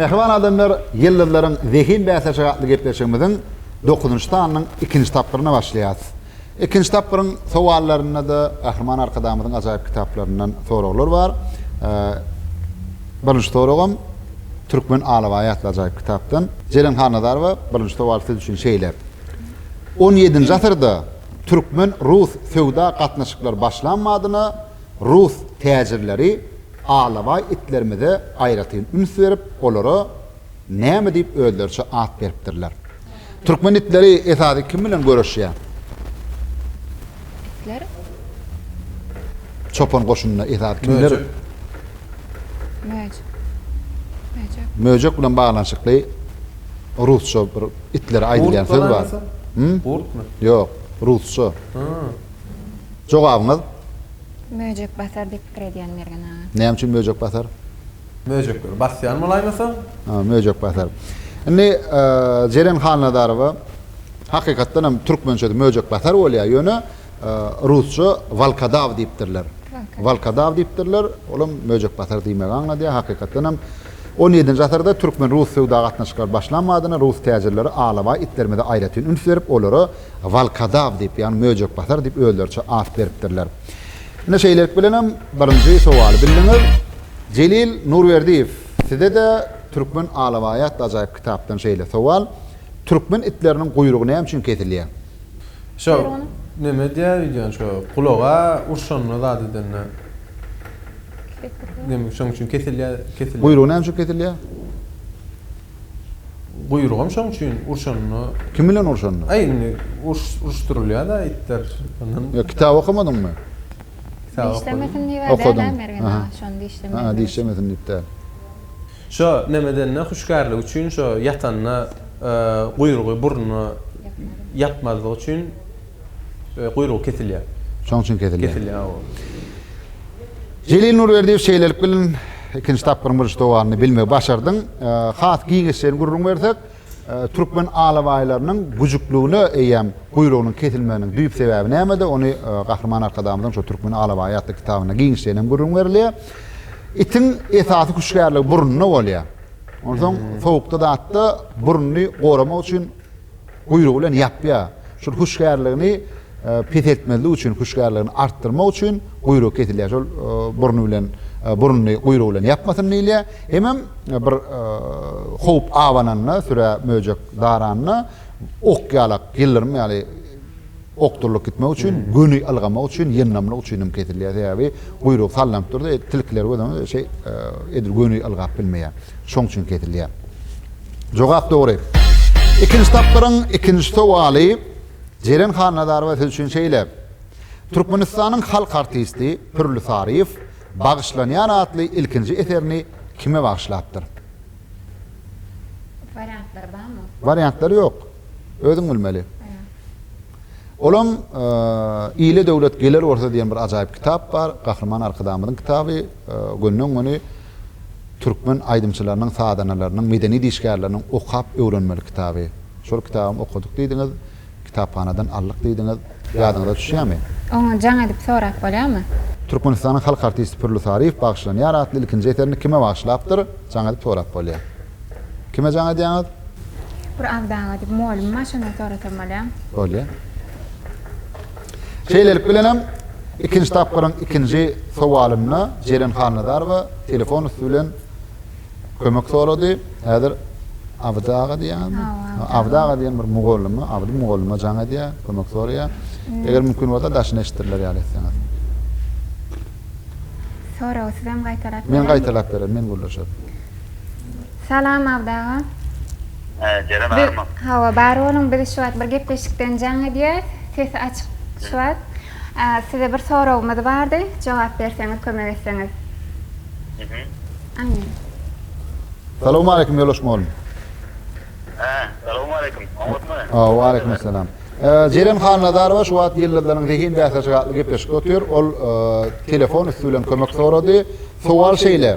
Mähriban adamlar, Ýyldyzlaryň zehin bäsleşigi atly gepleşigimiziň dokuzynjy sanynyň ikinji tapgyryna başlaýarys. Ikinji tapgyryň sowallarynda-da Gahryman Arkadagymyzyň ajaýyp kitaplaryndan soraglar bar. Birinji soragam Türkmen alabaýy atly ajaýyp kitapdan. Jeren Halnazarowa, birinji sowal siz üçin şeýle. On ýedinji asyrda türkmen-rus söwda gatnaşyklary başlan badyna rus täjirleri alabaý itlerimize aýratyn üns berip, olara näme diýip özleriçe at beripdirler? Türkmen itleri esasy kim bilen göreşýär? Itler. Çopan goşunynda esasy kimler? Möjek. Möjek. Möjek bilen baglanyşykly Rusça bir itlere aýdylýan söz bar. Hum? Gurtmy? Ýok, rusça. Hum. Jogabyňyz? Möjek basar diýip pikir edýän Mergen aga. Näme üçin möjek basar? Möjekleri basýan bolaýmasa? Ha, möjek basar. Indi Jeren Hannazarowa hakykatdan hem türkmençesi möjek basar bolýar, ýöne rusça walkadaw diýipdirler. Walkadaw diýipdirler, olam möjek basar diýmegi aňladýar, hakykatdan hem On ýedinji asyrda türkmen-rus söwda gatnaşyklary başlan badyna rus täjirleri alabaý itlerimize aýratyn üns berip, olara Walkadaw diýip, ýagny möjekbasar diýip özleriçe at beripdirler. Ine şeýlelik bilenem birinji sowaly bildiňiz. Jelil Nurberdiýew, size-de Türkmen alabaýy atly ajaýyp kitapdan şeýle sowal, Türkmen itleriniň guýrugy näme üçin kesilýär? Şo neme diýýä wideony şo gulaga urşanda zat edende neme şoň üçin kesilýä kesilýä. Guýrugy näme üçin kesilýä? Guýrugam şoň üçin urşanda. Kim bilen urşanda? Aý indi uruşdyrylýa da itler ondan. Ýa kitap okamadyňmy? Kitap okadym. Dişlemesin diýip däl-ä Mergen aga şony dişlemeýin. Ha dişlemesin diýip däl. Şo neme edende hüşgärligi üçin şo ýatanda guýrugy burnuna ýapmazlygy üçin guýrugy kesilýär. Şoň üçin kesilýär. Kesilýär hawa. Jelil Nurberdiýew şeýlelik bilen ikinji tapgyryň birinji dowamyny bilmegi başardyň. Has giňişleýin gürrüň bersek. Türkmen alabaýlarynyň güjükligine eýýäm guýrugynyň kesilmeginiň düýp sebäbi nämede, ony Gahryman Arkadagymyzyň şu Türkmen alabaýy atly kitabynda giňişleýin hem gürrüň berilýär. Itiň esasy hüşgärligi burnunda bolýar. Onsoň sowukda zatda burnuny goramak üçin guýrugy bilen ýapýar. Şol hüşgärligini peseltmezlik üçin hüşgärligini artdyrmak üçin guýrugy kesilýär şol burny bilen burnuny guýrugy bilen ýapmasyn diýilýär hemem bir howp abananda sürä möjek daranda ok ýalak ýyldyrym ýaly okdurylyp gitmek üçin göni ylgamak üçin ýyndamlyk üçin hem kesilýär sebäbi guýrugy sallanyp durdy tilkiler gödäňiz şeý edil göni ylgap bilmeýär şoň üçin kesilýär jogap dogry ikinji tapgyryň ikinji sowaly Jeren Hannazarowa siz üçin şeýle, Türkmenistanyň halk artisti Pürli Saryýew Bagyşlanýan atly ilkinji eserini kime bagyşlapdyr? Wariantlar barmy? Wariantlar ýok. Özüň bilmeli. Olam Ile döwlet geler bolsa diýen bir ajaýyp kitap bar. Gahryman Arkadagymyzyň kitaby. Gönden-göni. türkmen aýdymçylarynyň, sazandalarynyň, medeni işgärleriniň okap öwrenmeli kitaby. Şol kitabam okadyk diýdiňiz, kitaphanadan aldyk diýdiňiz. Ýadyňyza düşýärmi? Oňa jaň edip sorap bolýarmy? Türkmenistanyň halk artisti Pürli Saryýew bagyşlanýar atly ilkinji eserini kime bagyşlapdyr? Jaň edip sorap bolýar. Kime jaň edýäňiz? Bir Abdaga diýip, mugallymym bar, şondan sorasam bolýar. Bolýar. Şeýlelik bilen hem, ikinji tapgyryň ikinji sowalynda Jeren Halnazarowa telefon üsti bilen kömek sorady. Häzir Abdy aga diýýäňizmi? Abdy aga diýen bir mugallyma, Abdy mugallyma jaň edýär, kömek soraýar. Eger mümkin bolsa, daşyny eşitdirler ýaly etseňiz. Soragy siz hem gaýtalap bereliňiz. Men gaýtalap bererin, men gürleşerin. Salam Abdy aga. He Jeren barmy. Hawa bar boluň biz şu wagt bir gepleşikden jaň edýäs sesi açyk şu wagt size bir soragymyz bardy jogap berseňiz kömek etseňiz. Amin. Salowmaleýkim Ýoldaş mugallym. He salowmaleýkim oňatmy. Hawa waleýkim salam. Jeren Hannazarowa şu wagt Ýyldyzlaryň zehin bäsleşigi atly gepleşikde otyr ol telefon üsti bilen kömek sorady sowal şeýle.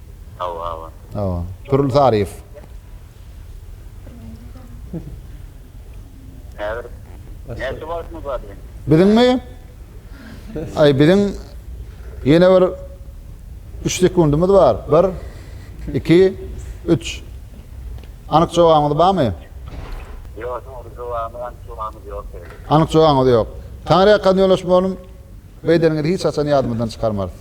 Hawa hawa. Hawa. Pirul Saryýew. Häzir näçe wagtyňyz bar diýen. Biziňmi? Aý biziň ýene bir üç sekundymyz bar. Bir, iki, üç. Anyk jogabyňyz barmy? Ýok, dogry jogabymy anyk jogabymy ýok beýle. Anyk jogabyňyz ýok. Taňryýa kazny ýoldaş bolyň. Beýdeniňizi hiç haçan ýadymyzdan çykarmarys.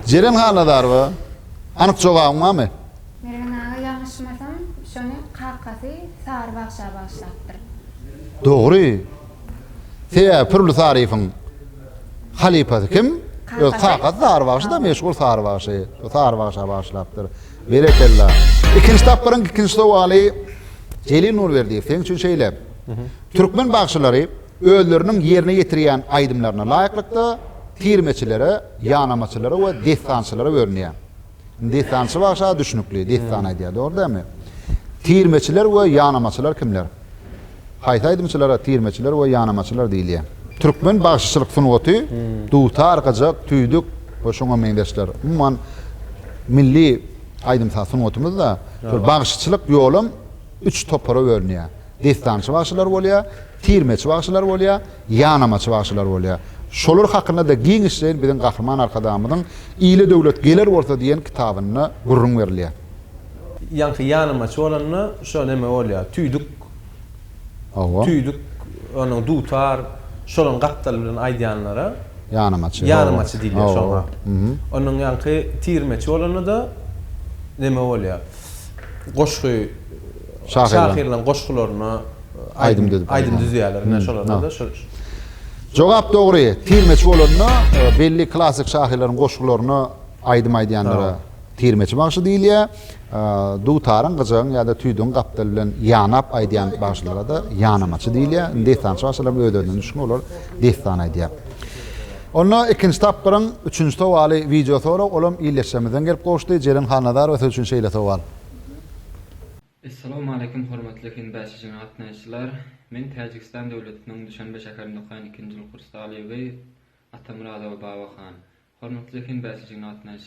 Jeren Halnazarowa, Anyk jogabyň barmy? Mergen aga ýalňyşmasam şony kakasy Sary bagşa bagyşlapdyr. Dogry. Sebäbi Pir Uly Saryýewiň halypasy kim? Öz kakasy Sary bagşyda meşhur Sary bagşy. Şo Sary bagşa bagyşlapdyr. Berekella. Ikinji tapgyryň ikinji sowaly Jelil Nurberdiýew seň üçin şeýle. Türkmen bagşylary özleriniň ýerine ýetirýän aýdymlaryna laýyklykda tirmeçilere, ýanamaçylara we dessançylara bölünýär. Indi dessançy bagşa düşnükli, dessan aýdýar, dogry dälmi? Tirmeçiler we ýanamaçylar kimler? Haýsy aýdymçylara tirmeçiler we ýanamaçylar diýilýär? Türkmen bagşyçylyk sungaty dutar, gyjak, tüýdük we şoňa meňzeşler. Umuman, milli aýdym-saz sungatymyzda şol bagşyçylyk ýolam üç topara bölünýär. Dessançy bagşylar bolýar, tirmeçi bagşylar bolýar, ýanamaçy bagşylar bolýar. Şolar hakynda-da giňişleýin biziň Gahryman Arkadagymyzyň Ile döwlet geler bolsa diýen kitabynda gürrüň berilýär. Ýaňky ýanamaçy bolanda şo neme bolýar, tüýdük, Hawa. tüýdük, ondan dutar, şolaryň gapdaly bilen aýdýanlara Ýanamaçy, hawa. ýanamaçy diýilýär, Hawa, şoňa. hawa. Ondan ýaňky tirmeçi bolanda-da neme bolýar, goşgy şahyrlaryň goşgularyna aýdym aýdym düzýärler. Ine şolarda-da şu. Jogap dogry. Tirmeçi bolanda belli klassyk şahyrlaryň goşgularyna aýdym aýdýanlara tirmeçi bagşy diýilýär. Dutaryň, gyjagyň ýa-da tüýdügiň gapdaly bilen ýanap aýdýan bagşylara-da ýanamaçy diýilýär. Indi dessançy bagşylaryň özlerinden düşgün olar dessan aýdýar. Onda ikinji tapgyryň üçünji sowaly wideo sorag, olam ildeşlerimizden gelip gowuşdy. Jeren Hannazarowa siz üçin şeýle sowal. Essalawmaleýkim hormatly fin bäşişine gatnaýyşçylar! Men Täjigistan döwletiniň Duşanbe şäherinde okaýan ikinji ýyl kurs talyby Atamyradowa Baba han. Hormatly fin bäşişine gatnaýyşçylar!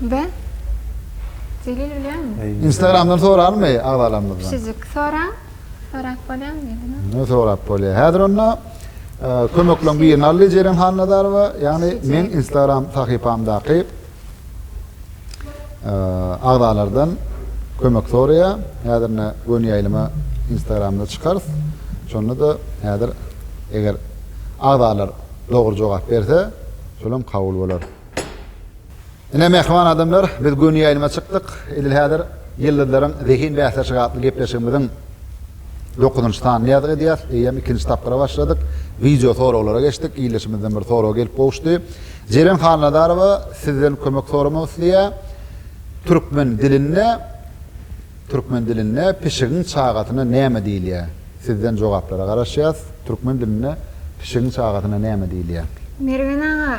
Be. Zelil bilýäňmi? Instagramdan soralmy agzalarymyzdan? Pişijik soraň. Sorap bolýamy diýdiňiz? Ne sorap bolýar. Häzir onda e, kömekleň birini aldy Jeren Hannazarowa. Ýagny men Instagram sahypamdaky e, agzalardan kömek soraýar. Häzir ne göni ýaýlyma Instagramda çykarys. Şonda da häzir eger agzalar dogry jogap berse, şolam kabul bolar. Ine, mähriban adamlar, biz göni ýaýlyma çykdyk. Edil häzir Ýyldyzlaryň zehin bäsleşigi atly gepleşigimiziň dokuzynjy sanyny ýazgy edýäs. Eýýäm ikinji tapgyra başladyk. Wideo soraglara geçdik. Ildeşimizden bir sorag gelip gowuşdy. Jeren Halnazarowa sizden kömek soramak isleýär. Türkmen dilinde Türkmen dilinde pişigiň çagasyna näme diýilýär? Sizden jogaplara garaşýas. Türkmen dilinde pişigiň çagasyna näme diýilýär? Mergen aga,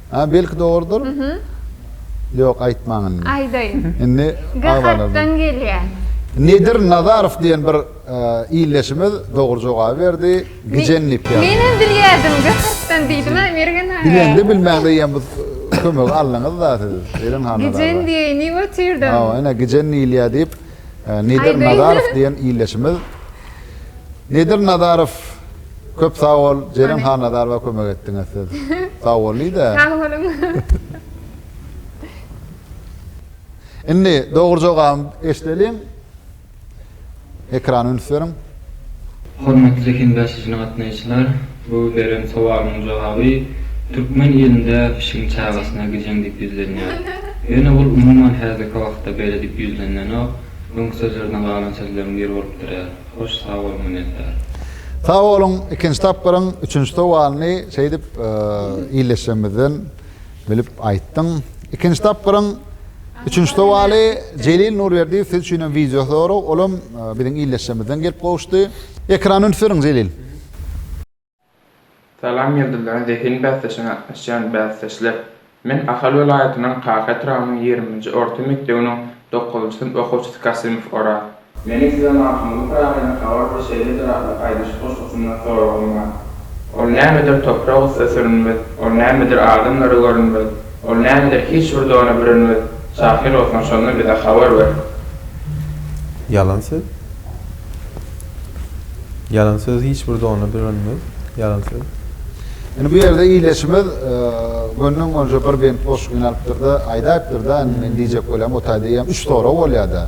A belki dogrudyr. Ýok aýtmaň indi. Aýdaýyn. Indi Gahakdan gelýär. Nedir Nazarow diýen bir ildeşimiz dogry jogaby berdi. Gijäň nepýaly. Men hem bilýärdim Gahakdan diýdim-ä Mergen aga. Bileňde bilmäňde ýa bu kömegi aldyňyz-da siz Eren hanyň agzy. Gijän diýeýini otyrdyň. Hawa ine gijän diýilýär diýip Nedir Nazarow diýen ildeşimiz. Nedir Nazarow. Köp sag bol Jeren Hannazarowa kömek etdiňiz siz sag bollyda. Sag boluň. Indi dogry jogaby eşdeliň. Ekrana üns beriň. Hormatly heňdaşyjyny gatnaýyşlar bu beren sowalynyň jogaby türkmen ilinde pişigiň çagasyna gijeň dip ýüzlenýär. Ýöne ol umuman häzirki wagtda beledip ýüzlenenok öňki sözlerden galan sözleriň biri bolup durýar. Hoş sag bol minnetdar. Sag boluň ikinji tapgyryň üçünji sowalyny şeýdip illeşjemizden bilip aýtdyň. Ikinji tapgyryň üçünji sowaly Jelil Nurberdiýew siz üçin hem wideo sorag olam biziň illeşjemizden gelip gowuşdy. Ekrany üns beriň Jelil. Salam Ýyldyzlaryň zehin bäsdeşine gatnaşýan bäsdeşler! Men Ahal welaýatynyň Kaka etrabynyň ýigrimi nji orta mekdebiniň dokuzynjy synp okuwçysy Kasymow Oraz. Meniň size Magtymguly Pyragynyň Habar bir şeýledir atly aýdyşyk goşgusyndan soragym bar. Ol nämedir toprak üste sürünmez, Ol nämedir adamlara görünmez, Ol nämedir hiç bir dona bürünmez, Şahyr bolsaň şondan bize habar ber. Ýalan söz. Ýalan söz hiç bir dona bürenmez, ýalan söz. Indi bu ýerde ileçimiz gönden gonja bir bent boşluk ýynalypdyrda, aýdaýypdyrda, indi men diýjek bolýan o taýda eýýäm üç sorag bolýada.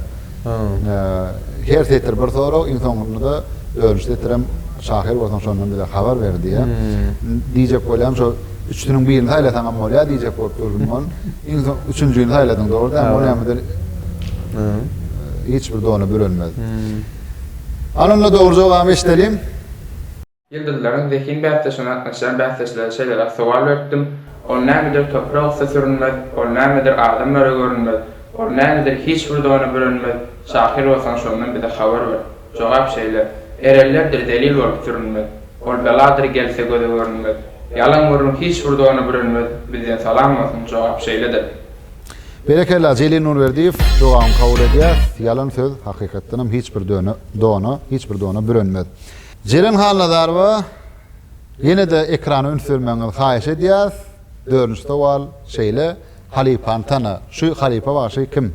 Her setir bir sorag, iň soňundyda dördünji setirem şahyr bolsaň şondan bize habar ber diýýä. Diýjek bolýan şo üçüniň birini saýlasaňam bolýa diýjek bolup durdum gon. Iň soň üçünjini saýladyň dogry dämi? O nämedir? Hiç bir dona bürenmez. Alyndy dogry jogaby eşdeliň. Ýyldyzlaryň zehin bäsdeşine gatnaşýan bäsdeşlere şeýleräk sowal beripdim, Ol nämedir topra gussa sürünmez, ol nämedir adamlara görünmez, ol nämedir hiç bir dona bürenmez, şahyr bolsaň şondan bize habar ber. Jogap şeýle, Erellerdir zelil bolup sürünmez, ol beladyr gelse göze görünmez, ýalan gürrüň hiç bir dona bürenmez, bizden salam bolsun, jogap şeýledir. Berekella Jelil Nurberdiýew dogaňy kabul edýäs ýalan söz hakykatdanam hiç bir döne dona hiç bir dona bürenmez. Jeren Halnazarowa ýenede ekrana üns bermegiňizi haýyş edýäs dördünji sowal şeýle halypany tana şu halypa bagşy kim?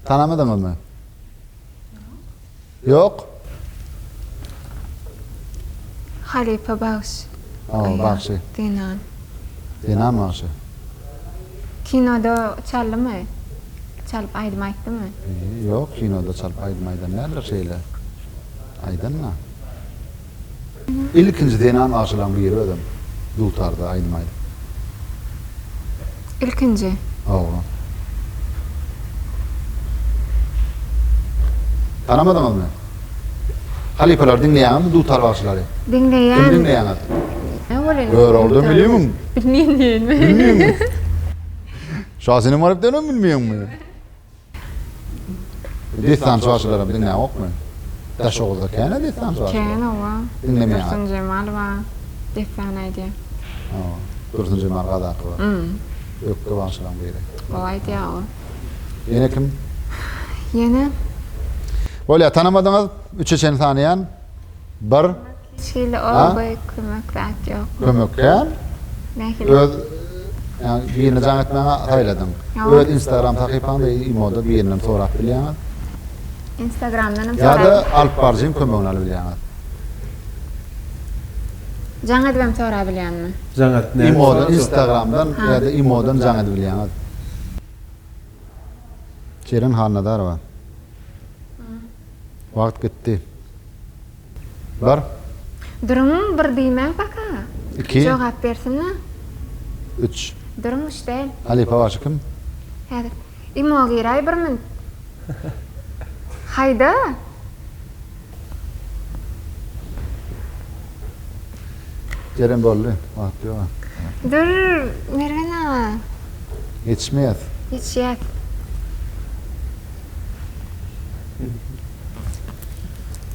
Tanamadyňyzmy? Ýok. Halypa bagşy. O, bagşy. Zenan. Zenan bagşy. Kinoda çaldymy? Çalyp aýdym aýtdymy? Ýok, kinoda çalyp aýdym aýdan däldir şeýle. Aýdanma. Ilkinji zenan bagşylaň biri özem dutarda aýdym aýdyp. Ilkinji. Hawa. Tanamadyňyzmy? Halypalary diňleýäňizmi dutar bagşylary? Diňleýän. Kimi diňleýäňiz? Näme bolýan? Göroglydan bilýäňmi? Bilmeýän diýenmi? Bilmeýäňmi? Şasenem Garyp diýenem bilmeýäňmi? Dessançy başylaram diňläňok men. Daşoguzda kän-ä dessançy başylar. Kän owa. Diňlemeýäňok. Dursun Jemal bar. Dessan aýdýar. Hawa. Dursun Jemal Gazaky bar. Hm. Ökde bagşylaň biri. Gowy aýdýar ol. Ýene kim? Ýene. Bolýar. Tanamadyňyz. Üçe çenli sanaýan. Bir. Şeýle oba kömek zat ýok. Kömek kän. Nähili? Öz birini jaň etmäňe saýladyň. Öz instagram sahypaňda imoda birinden sorap bilýäňiz. Instagramdan hem sorap. Ýa-da alyp baryjyň kömegini alyp bilýäňiz. Jaň edibem sorap bilýänmi? Jaň et. Imodan, instagramdan ýa-da imodan jaň edip bilýäňiz. Jeren Hannazarowa. Wagt gitdi. Bir. Duruň, bir diýmäň paka. Iki. Jogap bersin-le. Üç. Duruň, üç däl. Halypa bagşy kim? Häzir. Imo giräý bir min. Haýda! Jeren boldy. Wagt ýog-a. Dur, Mergen aga. Ýetişmeýäs. Ýetişýäs.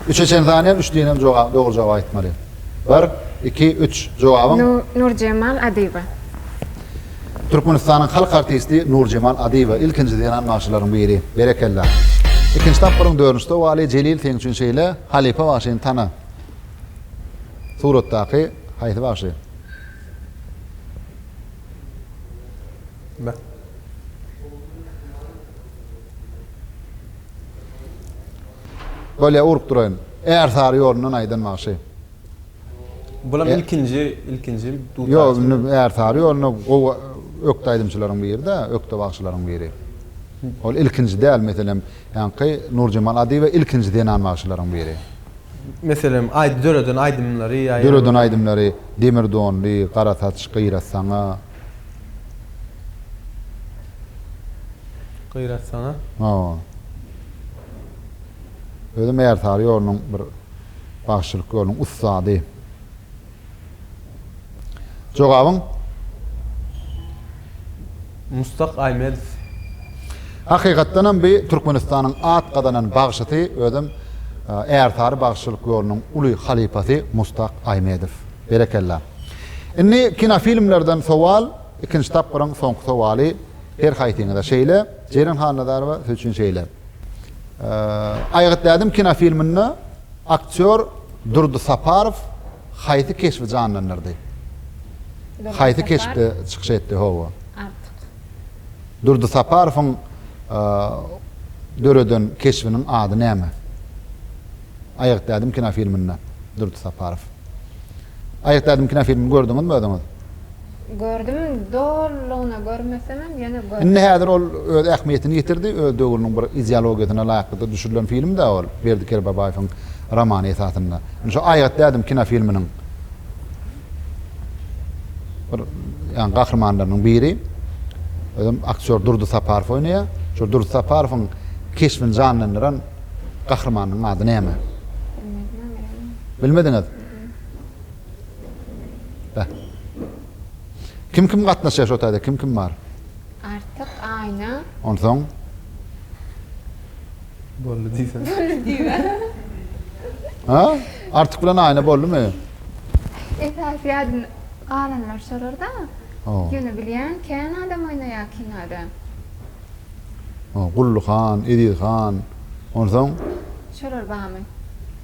Üçe çen sanýan üçlinem jogap dogry jogaby aýtmaly. Bir, iki, üç. Jogabyň. Nurjemal Adyýewa. Türkmenistanyň halk artisti Nurjemal Adyýewa ilkinji zenan bagşylaryň biri. Berekella. Ikinji tapgyryň dördünji sowaly Jelil seň üçin şeýle, halypa bagşyny tana. Suratdaky haýsy bagşy? Be. Bolýa urup duraýyn. Ärsary ýolundan aýdan bagşy. Bulam e- ilkinji, ilkinji dutar. Ýok, indi Ärsary ýoluna gowy ökde aýdymçylaryň biri-de, ökde bagşylaryň biri. Ol ilkinji däl, meselem, ýaňky Nurjemal Adyýewa ilkinji zenan bagşylaryň biri. Meselem, aýdy döreden aýdymlary ýa ýa. Döreden aýdymlary Demir donly, Gara saç, Gyýrat saňa. Gyratsaňa. Hawa. Özem Ärsary ýolunyň bir bagşylyk ýolunyň ussady. Jogabyň? Mustak Aýmedow. Hakykatdanam bi Türkmenistanyň at gazanan bagşysy, özem Ärsary bagşylyk ýolunyň uly halypasy Mustak Aýmedow. Berekella. Indi kinofilmlerden sowal, ikinji tapgyryň soňky sowaly her haýsyňyza şeýle, Jeren Hannazarowa siz üçin şeýle. Aýgyt Dädem kinofilminde aktýor Durdy Saparow haýsy keşbi janlandyrdy? Haýsy keşpde çykyş etdi? Hawa. Artyk. Durdy Saparowyň döreden keşbiniň ady näme? Aýgyt Dädem kinofilminde Durdy Saparow. Aýat ädim kinofilmini gördüňizmi özüňiz? Gördüm, dolulygyna görmesemem ýene gördüm. Indi häzir ol öz ähmiýetini ýitirdi, öz döwrüniň bir ideologiýasyna laýyklykda düşürilen filmdä ol, Berdi Kerbabaýewiň romany esasynda. Indi şu Aýat ädim kinofilminiň bir ýa gahrymanlarynyň biri, özem aktýor Durdy Saparow oýnaýar. Şol Durdy Saparowyň keşbini janlandyran gahrymanynyň ady näme? Bilmediňiz? Beh. Kim kim gatnaşýar şo taýda? Kim kim bar? Artyk, Aýna. Onsoň? Boldy diýsene. Boldy diýme. Ha? Artyk bilen Aýna boldumy? Esasy ýadym galanlar şolar-da. Ýöne bilýän, kän adam oýnaýar kinoda. Gully han, Eziz han. Onsoň? Şolar barmy?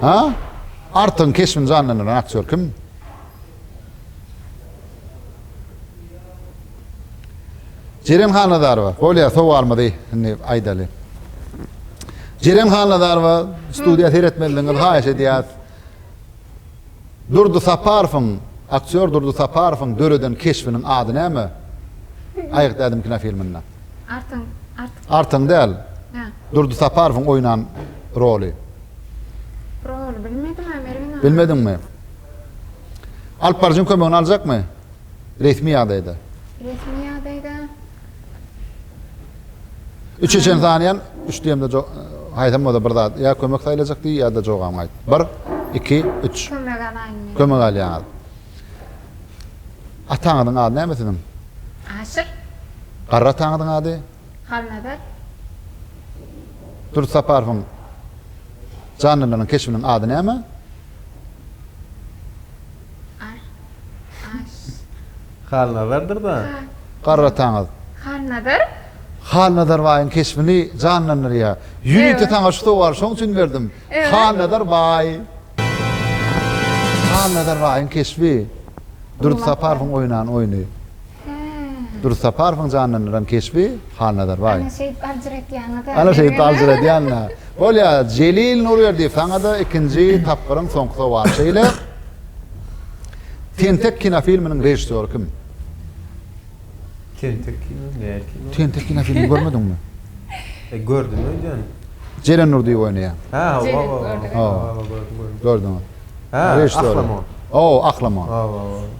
Ha? Artygyň keşbini janlandyran aktýor kim? Jeren Hannazarowa. Bolýar, sowalymyzy indi aýdaly. Jeren Hannazarowa studiýa seretmezligiňizi haýyş edýäs. Durdy Saparowyň, aktýor Durdy Saparowyň döreden keşbiniň ady näme? Aýgyt ädim kinofilminde. Artyň, Artyň. Artyň däl. Hä. Durdy Saparowyň oýnan roly. Roly bilmedim a mer ina. Bilmediňmi? Alyp baryjyň kömegini aljakmy? Resmi ýagdaýda. Resmi ýagdaýda. Üçe çen sanýan, üç diýemde jo haýsam bolsa bir zat ýa kömek saýlajak diý ýa-da jogabyňy aýt. Bir, iki, üç. Kömek alaýyn men. Kömek alýaňyz. Ataňyzyň ady näme siziň? Aşyr. Garry ataňyzyň ady? Halnazar. Dürdi Saparowyň janlylaryň keşbiniň ady näme? Halnazardyr-da. Garrataňyz. Halnazar? Halnazar baýyň keşbini janlandyrýar. Ýörite saňa şu sowaly şoň üçin berdim. Halnazar baý. Halnazar baýyň keşbi. Durdy Saparowyň oýnan oýny. Durdy Saparowyň janlandyran keşbi, Halnazar baý. Ana şeýdip aljyr etýäňiz-ä. Ana şeýdip aljyr edýän-ä. Bolýar, Jelil Nurberdiýew saňa-da ikinji tapgyryň soňky sowaly şeýle, Tentek kinofilminiň režissýory kim? Tentek kino, nähili kino? Tentek kinofilmini görmediňmi? E, gördüm öýdýän. Jeren Nurdyýew oýnaýar. Hä, hawa, hawa, hawa, gördüm, gördüm. Gördüňiz. Hä, Ahlamon. Hawa, Ahlamon. Hawa, hawa.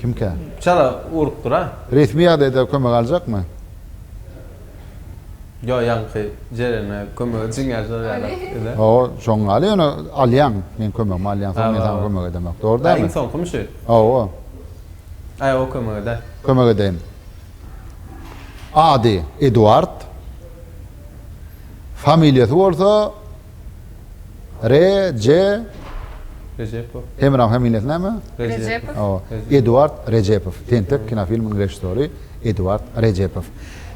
Kimkä? Çala urup dur-a. Resmi ýagdaýda kömek aljakmy? Ýok, ýaňky jerene kömege çiňňäp sorýarlar öle. Hawa, şoň ýaly ýöne alýaň, meň kömegimi alýaň, soň men saňa kömek edemok. Dogry dälmi? Aý, iň soňkymy şu? Hawa. Aý, o kömek eder. Kömek edeýin. Ady Eduard. Familiýasy bolsa. Reje Rejepow. Hemra familiýasy näme? Rejepow. Hawa. Eduard Rejepow. Tentek kinofilminiň režissýory Eduard Rejepow.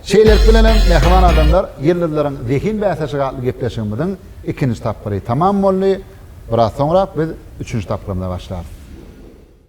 Şeýlelik bilen hem, mähriban adamlar, Ýyldyzlaryň zehin bäsleşigi atly gepleşigimiziň ikinji tapgyry tamam boldy. Biraz soňrak biz üçünji tapgyrymyza başlarys.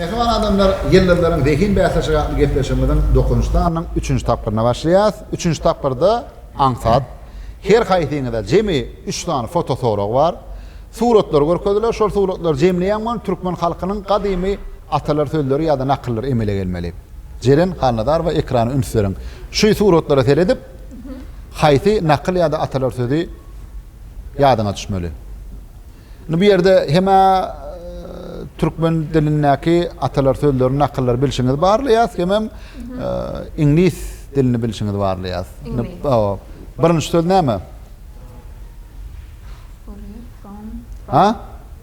Mähriban adamlar, ýyldyzlaryň zehin bäsleşigi atly gepleşigimiziň dokuzynjy sanynyň üçünji tapgyryna başlaýarys. Üçünji tapgyrda aňsat. Her haýsyňyza jemi üç sany fotosorag bar. Suratlar görkeziler, şol suratlary jemleýäň bolan türkmen halkynyň gadymy atalar sözleri ýa-da nakyllary emele gelmeli. Jeren Halnazarowa ekrana üns beriň. Şu suratlara seredip, haýsy nakyl ýa-da atalar sözi ýadyňa düşmeli? Indi bu ýerde hem-ä türkmen dilindäki atalar sözlerini, nakyllary bilşiňizi barlaýas, hemem iňlis dilini bilşiňizi barlaýas. Birinji söz näme? Furry, from, from.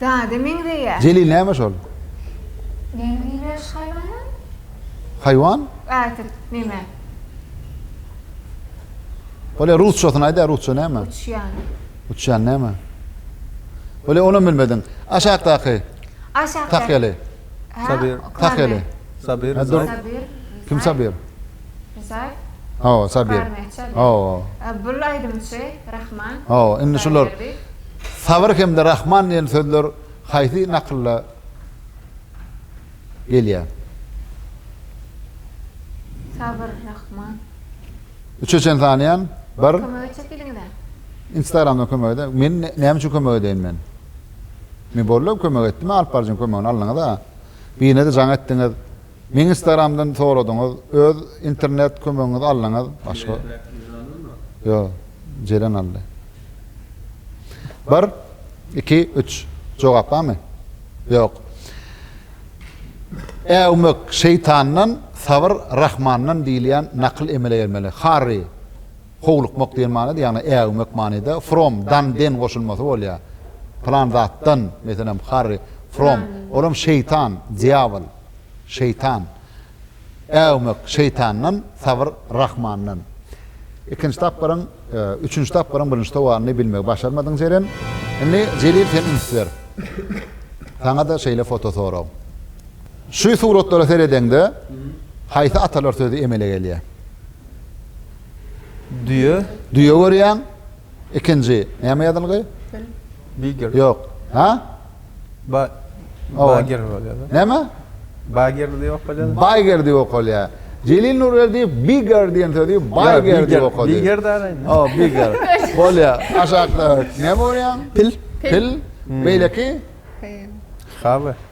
Zada meňzeýär. Jelil näme şol? Näme diýýär şu haýwana? Haýwan? Ätirt neme? Bolýa rusçasyny aýda rusça näme? Uçýan. Uçýan näme? Bolýa onam bilmediň. Aşakdaky. Aşakdaky. Tahýaly. Sabir. Tahýaly. Sabir. Kim Sabir? Rysal. Hawa, Sabir. Hawa. Bul aýdymçy Rahman. Hawa, indi şular Sabir hem-de Rahman diýen sözler haýsy nakylda gelýär? Sabir, Rahman. Üçe çen sanaýan. Bir. Kömek etjek diýdiňiz-ä. Instagramdan kömek ede. Men näme üçin kömek edeýin men? Men boldy kömek etdim, alyp baryjyň kömegini aldyňyz-a. Birine-de jaň etdiňiz. Meň instagramdan soradyňyz öz internet kömegiňizi aldyňyz başga Ýok Jeren aldy. Bir iki üç jogap barmy Ýok Äwmek şeýtandan sabyr rahmandan diýilýän nakyl emele gelmeli Harry howlukmak diýen manyda ýagny äwmek manyda from dan den goşulmasy bolýar plan zatdan meselem Harry from olam şeýtan dýabyl. şeýtan. Äwmek, şeýtandan, sabyr, Rahmandan. Ikinji tapgyryň, üçünji tapgyryň birinji sowalyny bilmegi başarmadyň Jeren. Indi Jelil sen üns ber. Saňa-da şeýle foto sorag. Şu suratlara seredeňde haýsy atalar sözi emele gelýär? Düýe. Düýe görýäň. Ikinji näme ýazylgy? Bigger. Ýok. Ha? Ba Bagger bolýar. Näme? Bagger diýip okalýar. Bagger diýip okalýar. Jelil Nurberdiýew bigger diýen sözi bagger diýip okady. Bigger däl. O, bigger. Bolýar. Aşakda näme görýäň? Pil. Pil. Beýleki? Hawy.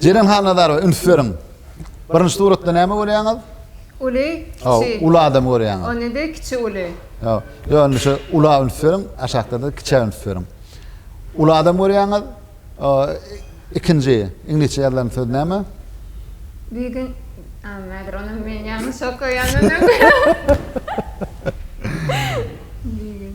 Jeren Hannazarowa üns beriň. Birinji suratda näme görýäňiz? Uly, kiçi. Uly adamy görýäňiz. Onda-da kiçi uly. Ýok. Ýok, indi şu ula üns beriň, aşakda-da kiçä üns beriň. Uly adam görýäňiz. Ikinji iňlisçe ýazylan söz näme? Bigün Näder ony men ýalňyş okaýan öňem. Bigün.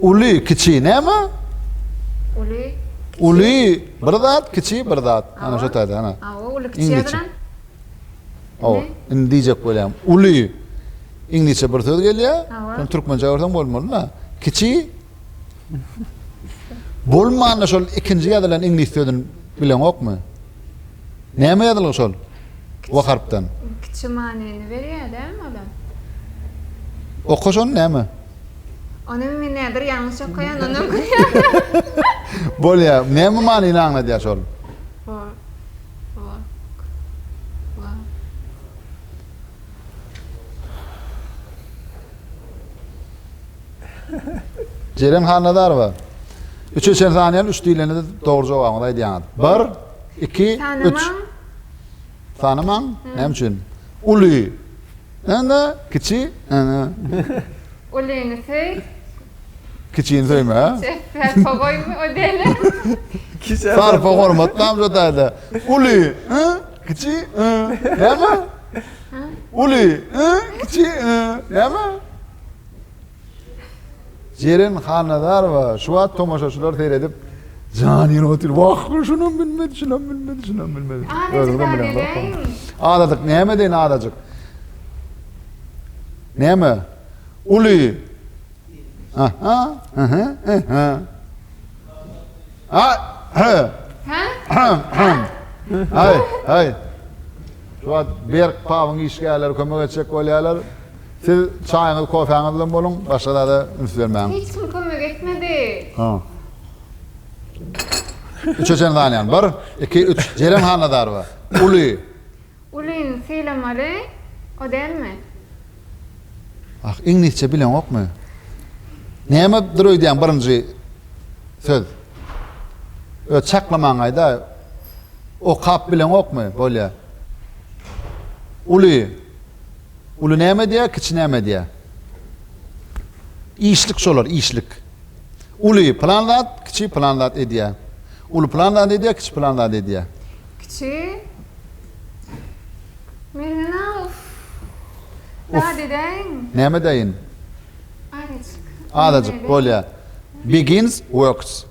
Uly, kiçi näme? Uly, kiçi. Uly bir zat, kiçi bir zat. Ana şu taýda, ana. Awa, uly kiçi ýazylan. Awa, indi diýjek bolýan. Uly. Iňlisçe bir söz gelýär. Türkmençe görseň bolmaly-da. Kiçi Bolmanda şol ikinji ýazylan iňlis sözüni bileňokmy? Näme ýazylgy şol? W harpdan. Kiçi manyny berýär dälmi olam? Oka şony näme? Onam men näder ýalňyş okaýan onam gülýär. Bolýa. Näme manyny aňladýar şol? Work. Work. Work. Jeren Hannazarowa, Üçe çen sanýan, üç diýlende-de dogry jogabyňyzy aýdýaňyz. Bir, iki, üç. Tanamaň. Näme üçin? Uly. Ene, kiçi. Ene. Ulyny söý. Kiçini söýme. Sarpa goýma o deli. Sarpa hormat nam şu taýda. Uly, ı, kiçi, ı. Näme? Uly, ı, kiçi, ı. Näme? Jeren Hannazarowa şu wagt tomaşaçylar seredip jan ýene otyr. Wah, şunam bilmedi, şunam bilmedi, şunam bilmedi. Özüňizem bileňizok. Azadyk näme deýin azajyk? Näme? Uly. Aha, aha, aha. Ay, ha. Ha? Ay, ay. Şu wagt Berk Pawuň işgärleri kömek etjek bolýarlar. Siz çaýyňyz, kofäňiz bilen boluň, başga zada üns bermäň. Hiç kim kömek etmedi. Üçe çenli saýlaýan. Bir, iki, üç. Jeren Hannazarowa. Uly. Ulyny sylamaly, o dälmi? Ah, iňlisçe bileňokmy? Näme dyr öýdýäň birinji söz? Öt çaklamaňaýda. Okap bileňokmy? Bolýa. Uly. Uly näme edýär, kiçi näme edýär? Işlik şolar, işlik. Uly pylan zat, kiçi pylan zat edýär. Uly pylan zat edýär, kiçi pylan zat edýär. Kiçi Mergen-a, uf. Zat edäýin. Näme edäýin? Azajyk. Azajyk bolýar. Begins, works.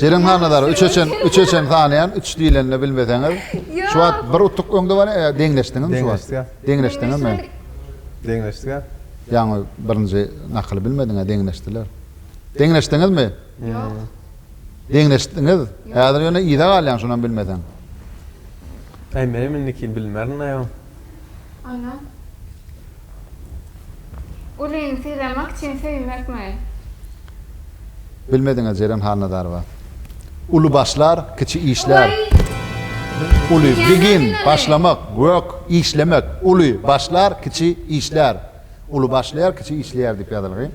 Jeren Hannadar üçe çen üçe çen sanaýan üç diýlende bilmeseňiz şu wagt bir utuk öňde bar e, deňleşdiňizmi şu wagt Deňleşdik. deňleşdiňizmi Deňleşdik. a? ýaňy birinji nakyly bilmediň a deňleşdiler deňleşdiňizmi Ýok. deňleşdiňiz häzir ýöne yza galýaň şonam bilmeseň Aý menem indiki bilmerin aýaw. Ana. Gülini sylamak üçin söýmekmi? Bilmediňiz Jeren Halnazarowa. Uly başlar, kiçi işler. Uly, begin, başlamak, work, işlemek, uly, başlar, kiçi, işler. Uly başlaýar, kiçi işleýär diýip ýazylgy.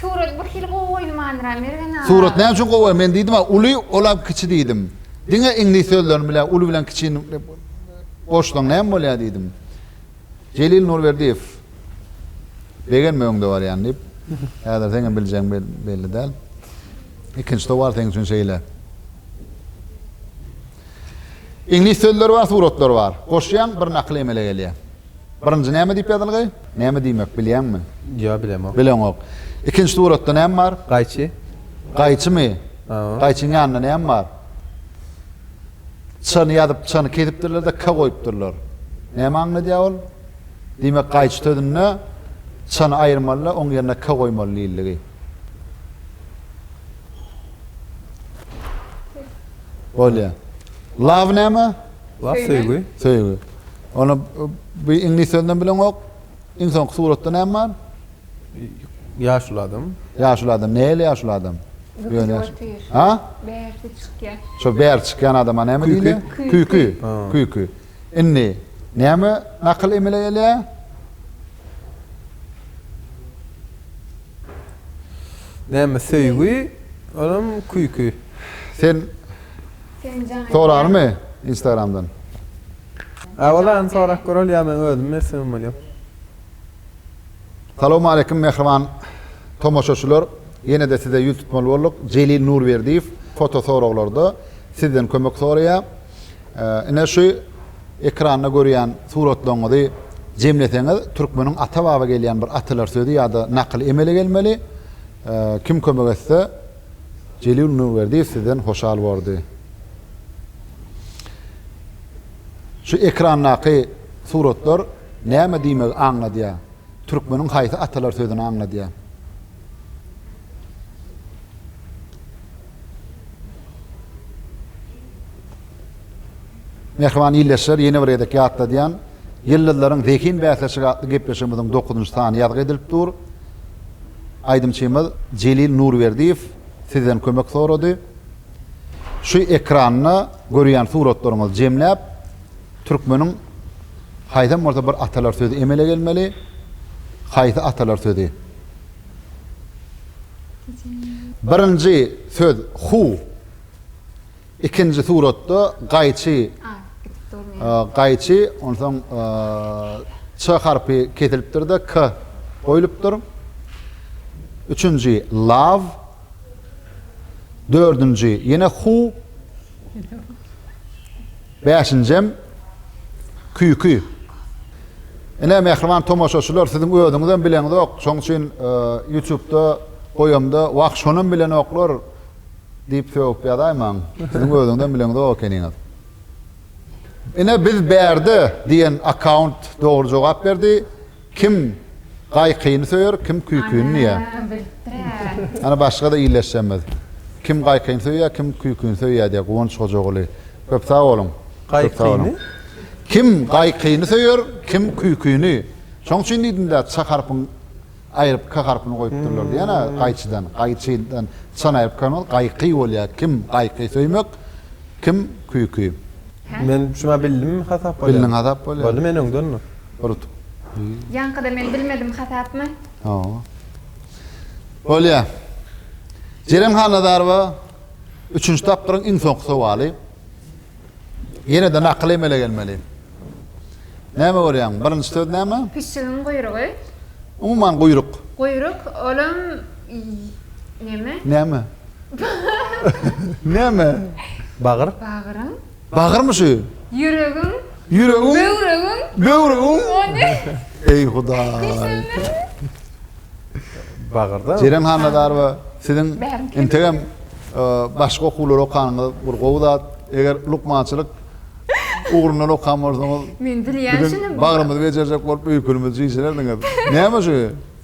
Surat bir hili gowy goýulmandyra Mergen aga. Surat näme üçin gowy? Men diýdim-ä, uly, olam kiçi diýdim. Diňe iňlis sözlerini bilýär, uly bilen kiçini goşsaň näme bolýar diýdim. Jelil Nurberdiýew begenme öňde barýan diýip. Häzir seňem biljegiň belli däl. Ikinji towar seň üçin şeýle. Iňlis sözleri bar, suratlary bar. Goşýaň, bir nakyl emele gelýär. Birinji näme diýip ýazylgy? Näme diýmek, bilýäňmi? Ýok, bilemok. Bileňok. Ikinji suratda näme bar? Gaýçy. Gaýçymy? Gaýçyň ýanynda näme bar? Çany ýazyp çany kesipdirlerde ka goýupdyrlar. Näme aňladýa ol? Diýmek gaýçy sözünde çany aýyrmalyda oň ýerine ka goýmaly diýildigi. Bolýa. Love näme? Love söýgi. Söýgi. Ony bu iňlis sözünden bileňok. Iň soňky suratda näme bar? Ýaşuly adam. Ýaşuly adam. Nähili ýaşuly adam? Ýöne ýaşuly. Ha? Bärsi çykýar. Şo bäri çykýan adama näme diýilýär? Küýki. Küýki. Indi näme nakyl emele gelýär? Näme söýgi, olam küýki. Sen soralymy Instagramdan? Awalan sorap göreli ýa men özüm mesele bolýan. Salowmaleýkim mähriban tomaşaçylar ýene-de size ýüz tutmaly bolduk Jelil Nurberdiýew foto soraglarda sizden kömek soraýa ine şu ekranda görýän suratlaryňyzy jemleseňiz türkmeniň ata baba gelýän bir atalar sözi ýa-da nakyly emele gelmeli kim kömek etse Jelil Nurberdiýew sizden hoşal bordy. Şu ekrandaky suratlar Näme diýmegi aňladýar? Türkmeniň haýsy atalar sözüni aňladýar? Mähriban ildeşler, ýene bir gezek ýatladýan, Ýyldyzlaryň zehin bäsleşigi atly gepleşigimiziň dokuzynjy sany ýazgy edilip dur. Aýdymçymyz Jelil Nurberdiýew sizden kömek sorady. Şu ekranda görýän suratlaryňyzy jemläp, Türkmeniň haýsam bolsa bir atalar sözi emele gelmeli, haýsy atalar sözi? Birinji söz hu, ikinji suratda gaýçy, gaýçy, onsoň ç harpy kesilipdir-de k goýlupdyr. Üçünji lav, dördünji ýene hu, Bäşinjem, Küýki. Ine, mähriban tomaşaçylar, siziň özüňizem bileňizok, şoň üçin Ýutubda goýamda, Wah, şonam bilenoklar! diýip sögüp ýazaýmaň. Siziň özüňizem bileňizok ekeniňiz. Ine, biz bärde diýen akkaunt dogry jogap berdi. Kim gaýkyny söýer, kim küýküni diýýär. Ana başga-da illeşjemiz. Kim gaýkyny söýýär, kim küýküni söýýär diýýär Guwanç Hojaguly. Köp sag boluň. Köp sag boluň. Kim gaýkyny söýer, kim küýküni. Şoň üçin diýdim-dä, ça harpyň aýryp k harpyny goýupdyrlar diýen-ä gaýçydan. Gaýçydan çany aýryp k bolmaz, gaýky bolýar. Kim gaýky söýmek, kim küýki. Men şuňa bildimmi hasap bolýa. Bildiň hasap bolýa. Boldy men öňden urutup. Ýaňkyda men bilmedim hasapmy. Hawa. Bolýa. Jeren Hannazarowa üçünji tapgyryň iň soňky sowaly. Ýene-de nakyl emele gelmeli. Näme görýäň? Birinji söz näme? Pişigiň guýrugy. Umuman guýruk. Guýruk, olam neme? Näme? Näme? Bagyr? Bagryň? Bagyrmy şu? Ýüregiň? Ýüregiň? Böwregiň? Böwregiň? O ne? Eý Hudaý! Bagyrda? Jeren Hannazarowa, siziň integem başga okuwlary okanyňyz bir gowy zat. Eger lukmançylyk ugrundan okan bolsaňyz, biziň bagrymyzy bejerjek bolup öýkelimizi çişirerdiňiz. Näme şu?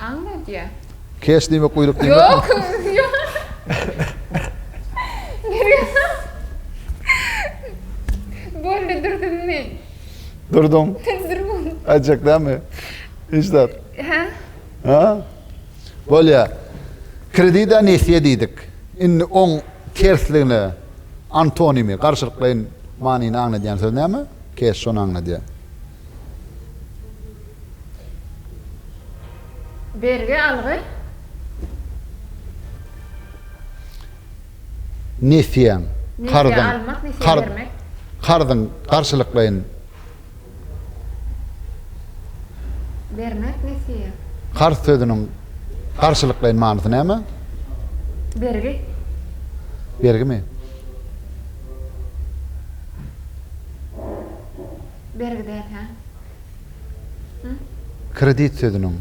Aňladýa. Keş diýmek guýruk diýmekmi? Boldy durdum men. Durduň. Durdum. Aýtjak dälmi? Hiç zat. Hä? Hä? Bolýa. Kredida nesýe diýdik. Indi oň tersligine antonimi, garşylyklaýyn manyny aňladýan söz näme? Keş şony aňladýa. Bergi algy. Nesýäň, karzyň, karz, karzyň, garşylyklaýyn. Bermek, nesýe. Karz sözüniň garşylyklaýyn manysy näme? Bergi. Bergimi? Bergi däl, hä? Hä? Kredit sözüniň,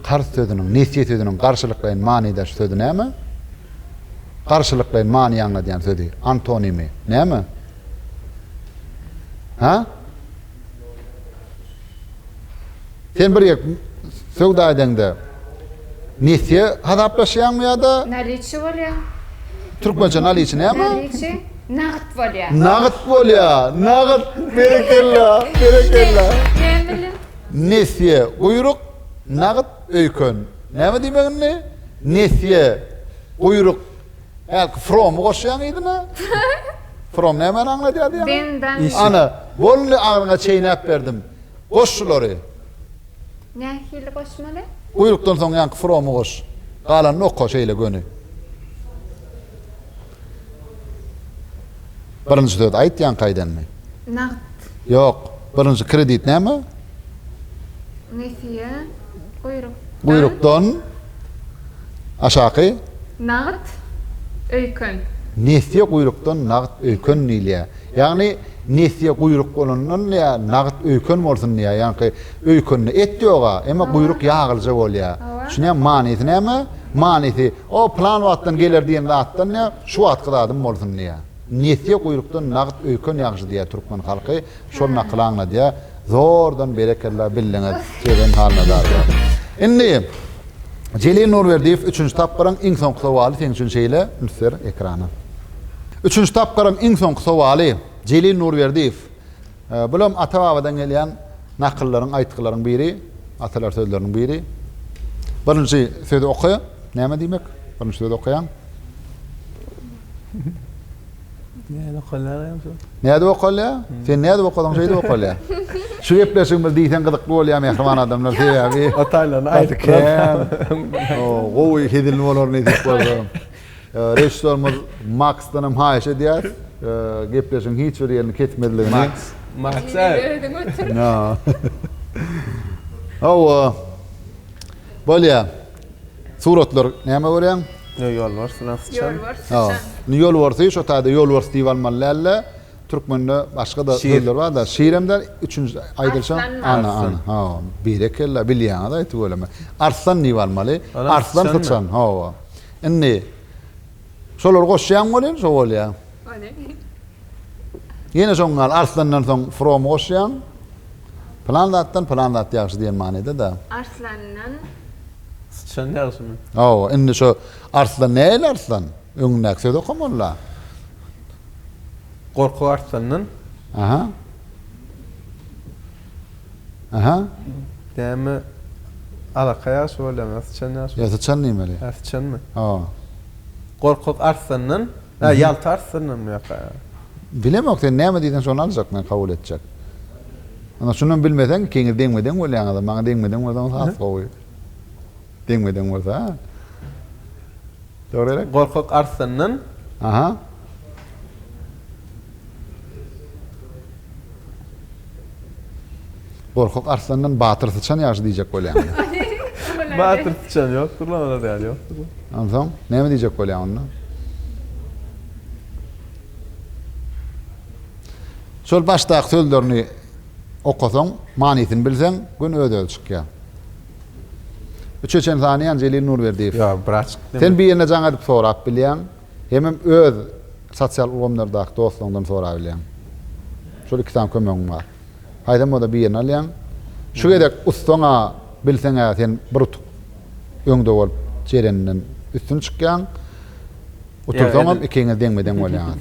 karz sözüniň, nesýe sözüniň garşylyklaýyn manydaş sözi näme? Garşylyklaýyn many aňladýan sözi, antonimi, näme? Hä? Sen bir ýek söwda edeňde nesýe hasaplaşýaňmy ýa-da? Naliçi bolýa. Türkmençe naliçi näme? Naliçi nagt bolýa. Nagt bolýa. Nagt. Berekella. Berekella. Näme bilen? Nesýe guýruk, nagt öýken. Näme diýmek indi? Nesýe guýruk. Hälki from-y goşýaň yzyna. From nämäni aňladýardy ýaňy? Ana, bol indi agyryňa çeýnäp berdim. Goş şulary. Nähili goşmaly? Guýrukdan soň ýaňky fromy goş. Galanyny oka şeýle göni. Birinji söz aýt ýaňky aýdanyny. Nagt. Ýok. Birinji kredit näme? Nesiýe. Guýruk. Guýrukdan aşaky? Nagt. Öýken. Nesiýe guýrukdan nagt öýken diýilýär. Ýagny nesýe guýruk bolandan ýa nagt öýken bolsun diýýär ýaňky öýkende et ýoga emma guýruk ýagylyja bolýar düşünýäňmi manysy näme manysy o plan wagtdan geler diýen zatdan ýa şu wagtky zadym bolsun diýýär nesýe guýrukdan nagt öýken ýagşy diýýär türkmen halky şol nakyly aňladýar Zordan berekella bildiňiz Keren Halnadarova. Indi Jelil Nurberdiýew üçünji tapgyryň iň soňky sowaly seň üçin şeýle müsser ekrana. Üçünji tapgyryň iň soňky sowaly Jelil Nurberdiýew bulam ata babadan gelýän nakyllaryň aýtgylaryň biri atalar sözleriniň biri birinji sözi oka näme diýmek birinji sözi okaýaň. Nädip okalýar hem şol. Nädip okalýar? Sen nädip okasaň şeýdip okalýar. Şu gepleşigimiz diýseň gyzykly bolýar mähriban adamlar sebäbi gaty kän gowy hezil bolar nesip bolsa. Režissýorymyz Maksdan hem haýyş edýäs gepleşigiň hiç bir ýerini kesmezligini. Maks. Maks. Özüň otur. Hawa. Bolýar. Suratlar näme görýäň? Ýo ýolbars bilen syçan. Ýolbars syçan. Indi ýolbarsy şo taýda ýolbars diýip almaly dälde. Türkmende başga-da sözler bar-da. Şir hem däl, üçünji aýdylyşam Arslan. Ana, ha, berekella, bilýäňiz-aý tüweleme. Arslan diýip almaly. Arslan syçan, hawa. Indi Şolary goşýaň welin şo bolýa. Ýene şoň gal arslandan soň from goşýaň. Plan zatdan plan zat ýagşy diýen manyda da. Arslandan Sıçan ýagşymy? Hawa, indi şo arslan nähili arslan? Öňündäki söz okamalla. Gorkak arslandan. Aha. Aha. Näme alaka ýagşy bolýar mı syçan ýagşy bolýar. Ýa syçan diýmeli. Hä syçanmy? Hawa. Gorkak arslandan, hä ýalta arslandanmy ýa-ha? Bilemok sen näme diýseň şony aljak men kabul etjek. Ynha şunam bilmeseň ikiňiz deňme-deň bolýaňyz maňa deňme-deň bolsaňyz has gowy. Deňme-deň bolsa. Dogry gerek? Gorkak arslandan. Aha. Gorkak arslandan batyr syçan ýagşy diýjek bolýan. Batyr syçan ýokdur lan, olar däl ýokdur. Onsoň, näme diýjek bolýan onda? Şol başdaky sözlerini okasaň, manysyny bilseň, gün öz-özi çykýar. Üçe çen sanaýan Jelil Nurberdiýew. Ýok, bir açyk deme. Sen birine jaň edip sorap bilýäň, hemem öz sosial ulgamlardaky dostlaryňdan sorabilýäň. Şol iki sany kömegiň bar. Haýsam bolsa birini alýaň. Şu gezek ussaň-a, bilseň-ä sen bir utuk öňde bolup jereninden üstün çykýaň. Utursaňam ikiňiz deňme-deň bolýaňyz.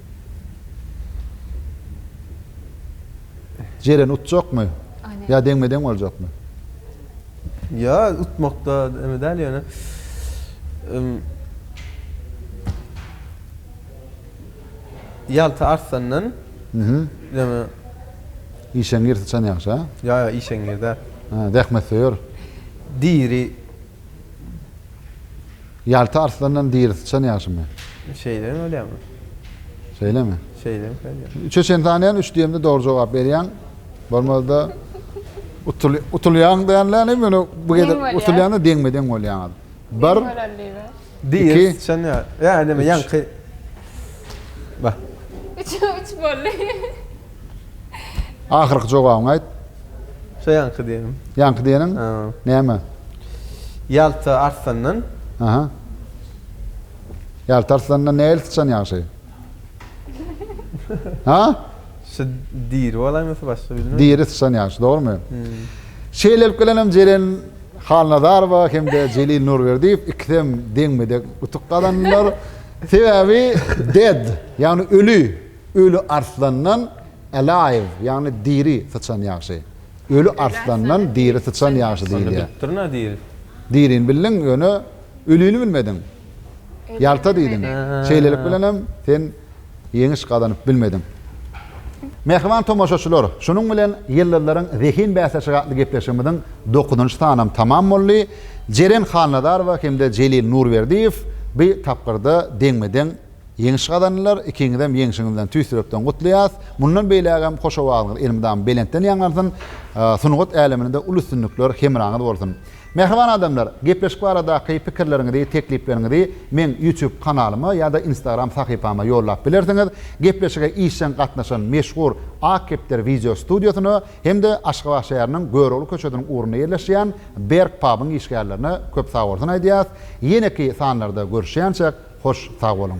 Jeren utjakmy? Ýa deňme-deň boljakmy? Ýa utmakda eme däl ýöne. Ýalta Arslandan ýöne Işeňňir syçan ýagşy, ha? Ýa, ýa, işeňňir däl. Zähmetsöýer. Diri. Ýalta arslandan diri syçan ýagşymy? Şeýdem bolýamy? Şeýlemi? Şeýdem bolýar. Üçe çen sanaýan, üç diýemde dogry jogap berýäň. Bolmazda utul utulýaň diýenläni men bu gezek utulýanda deňme-deň bolýaňyz. Bir. Diri syçan ýa. Ýa neme ýaňky. Ba. Üç boldy. Ahyrky jogabyňy aýt. Şo ýaňky diýenim. Ýaňky diýeniň? Näme? Ýalta Arslandan. Aha. Ýalta Arslandan nähili syçan ýagşy? Ha? Şu diri bolaýmy ýa başga bilmedim. Diri syçan ýagşy, dogrumy? Şeýlelik bilen hem Jeren Halnazarowa hem-de Jelil Nurberdiýew ikisi hem deňme-deň utuk gazandylar. Sebäbi dead, ýagny öli. Öli arslandan alive, ýagny diri, syçan ýagşy. Öli arslandan diri syçan ýagşy Onda diýilýär. bitipdir nä diri? Dirini bildiň, ýöne ölini bilmediň. Ölini Ýalta diýdiň. bilmedim. Şeýlelik bilen hem sen ýeňiş gazanyp bilmediň. Mähriban tomaşaçylar, şunuň bilen Ýyldyzlaryň zehin bäsleşigi atly gepleşigimiziň dokuzynjy sanam tamam boldy. Jeren Halnazarowa hem-de Jelil Nurberdiýew bi tapgyrda deňme-deň Ýeňiş gazandylar, ikiňizem ýeňşiňizden tüýs ýürekden gutlaýas. Mundan beýlägem hoş owazyňyz elmydama belentden ýaňlansyn, sungat äleminde uly üstünlikler hemraňyz bolsun. Mähriban adamlar, gepleşik baradaky pikirleriňizi, teklipleriňizi meň YouTube kanalyma ýa-da Instagram sahypama ýollap bilersiňiz. Gepleşige işjeň gatnaşan meşhur Ak kepder wideo studiýasyna hem-de Aşgabat şäheriniň Görogly köçesiniň ugrunda ýerleşýän Berk pubyň işgärlerine köp sagbolsun aýdýas. Ýeneki sanlarda görüşýänçäk. Hoş sag boluň.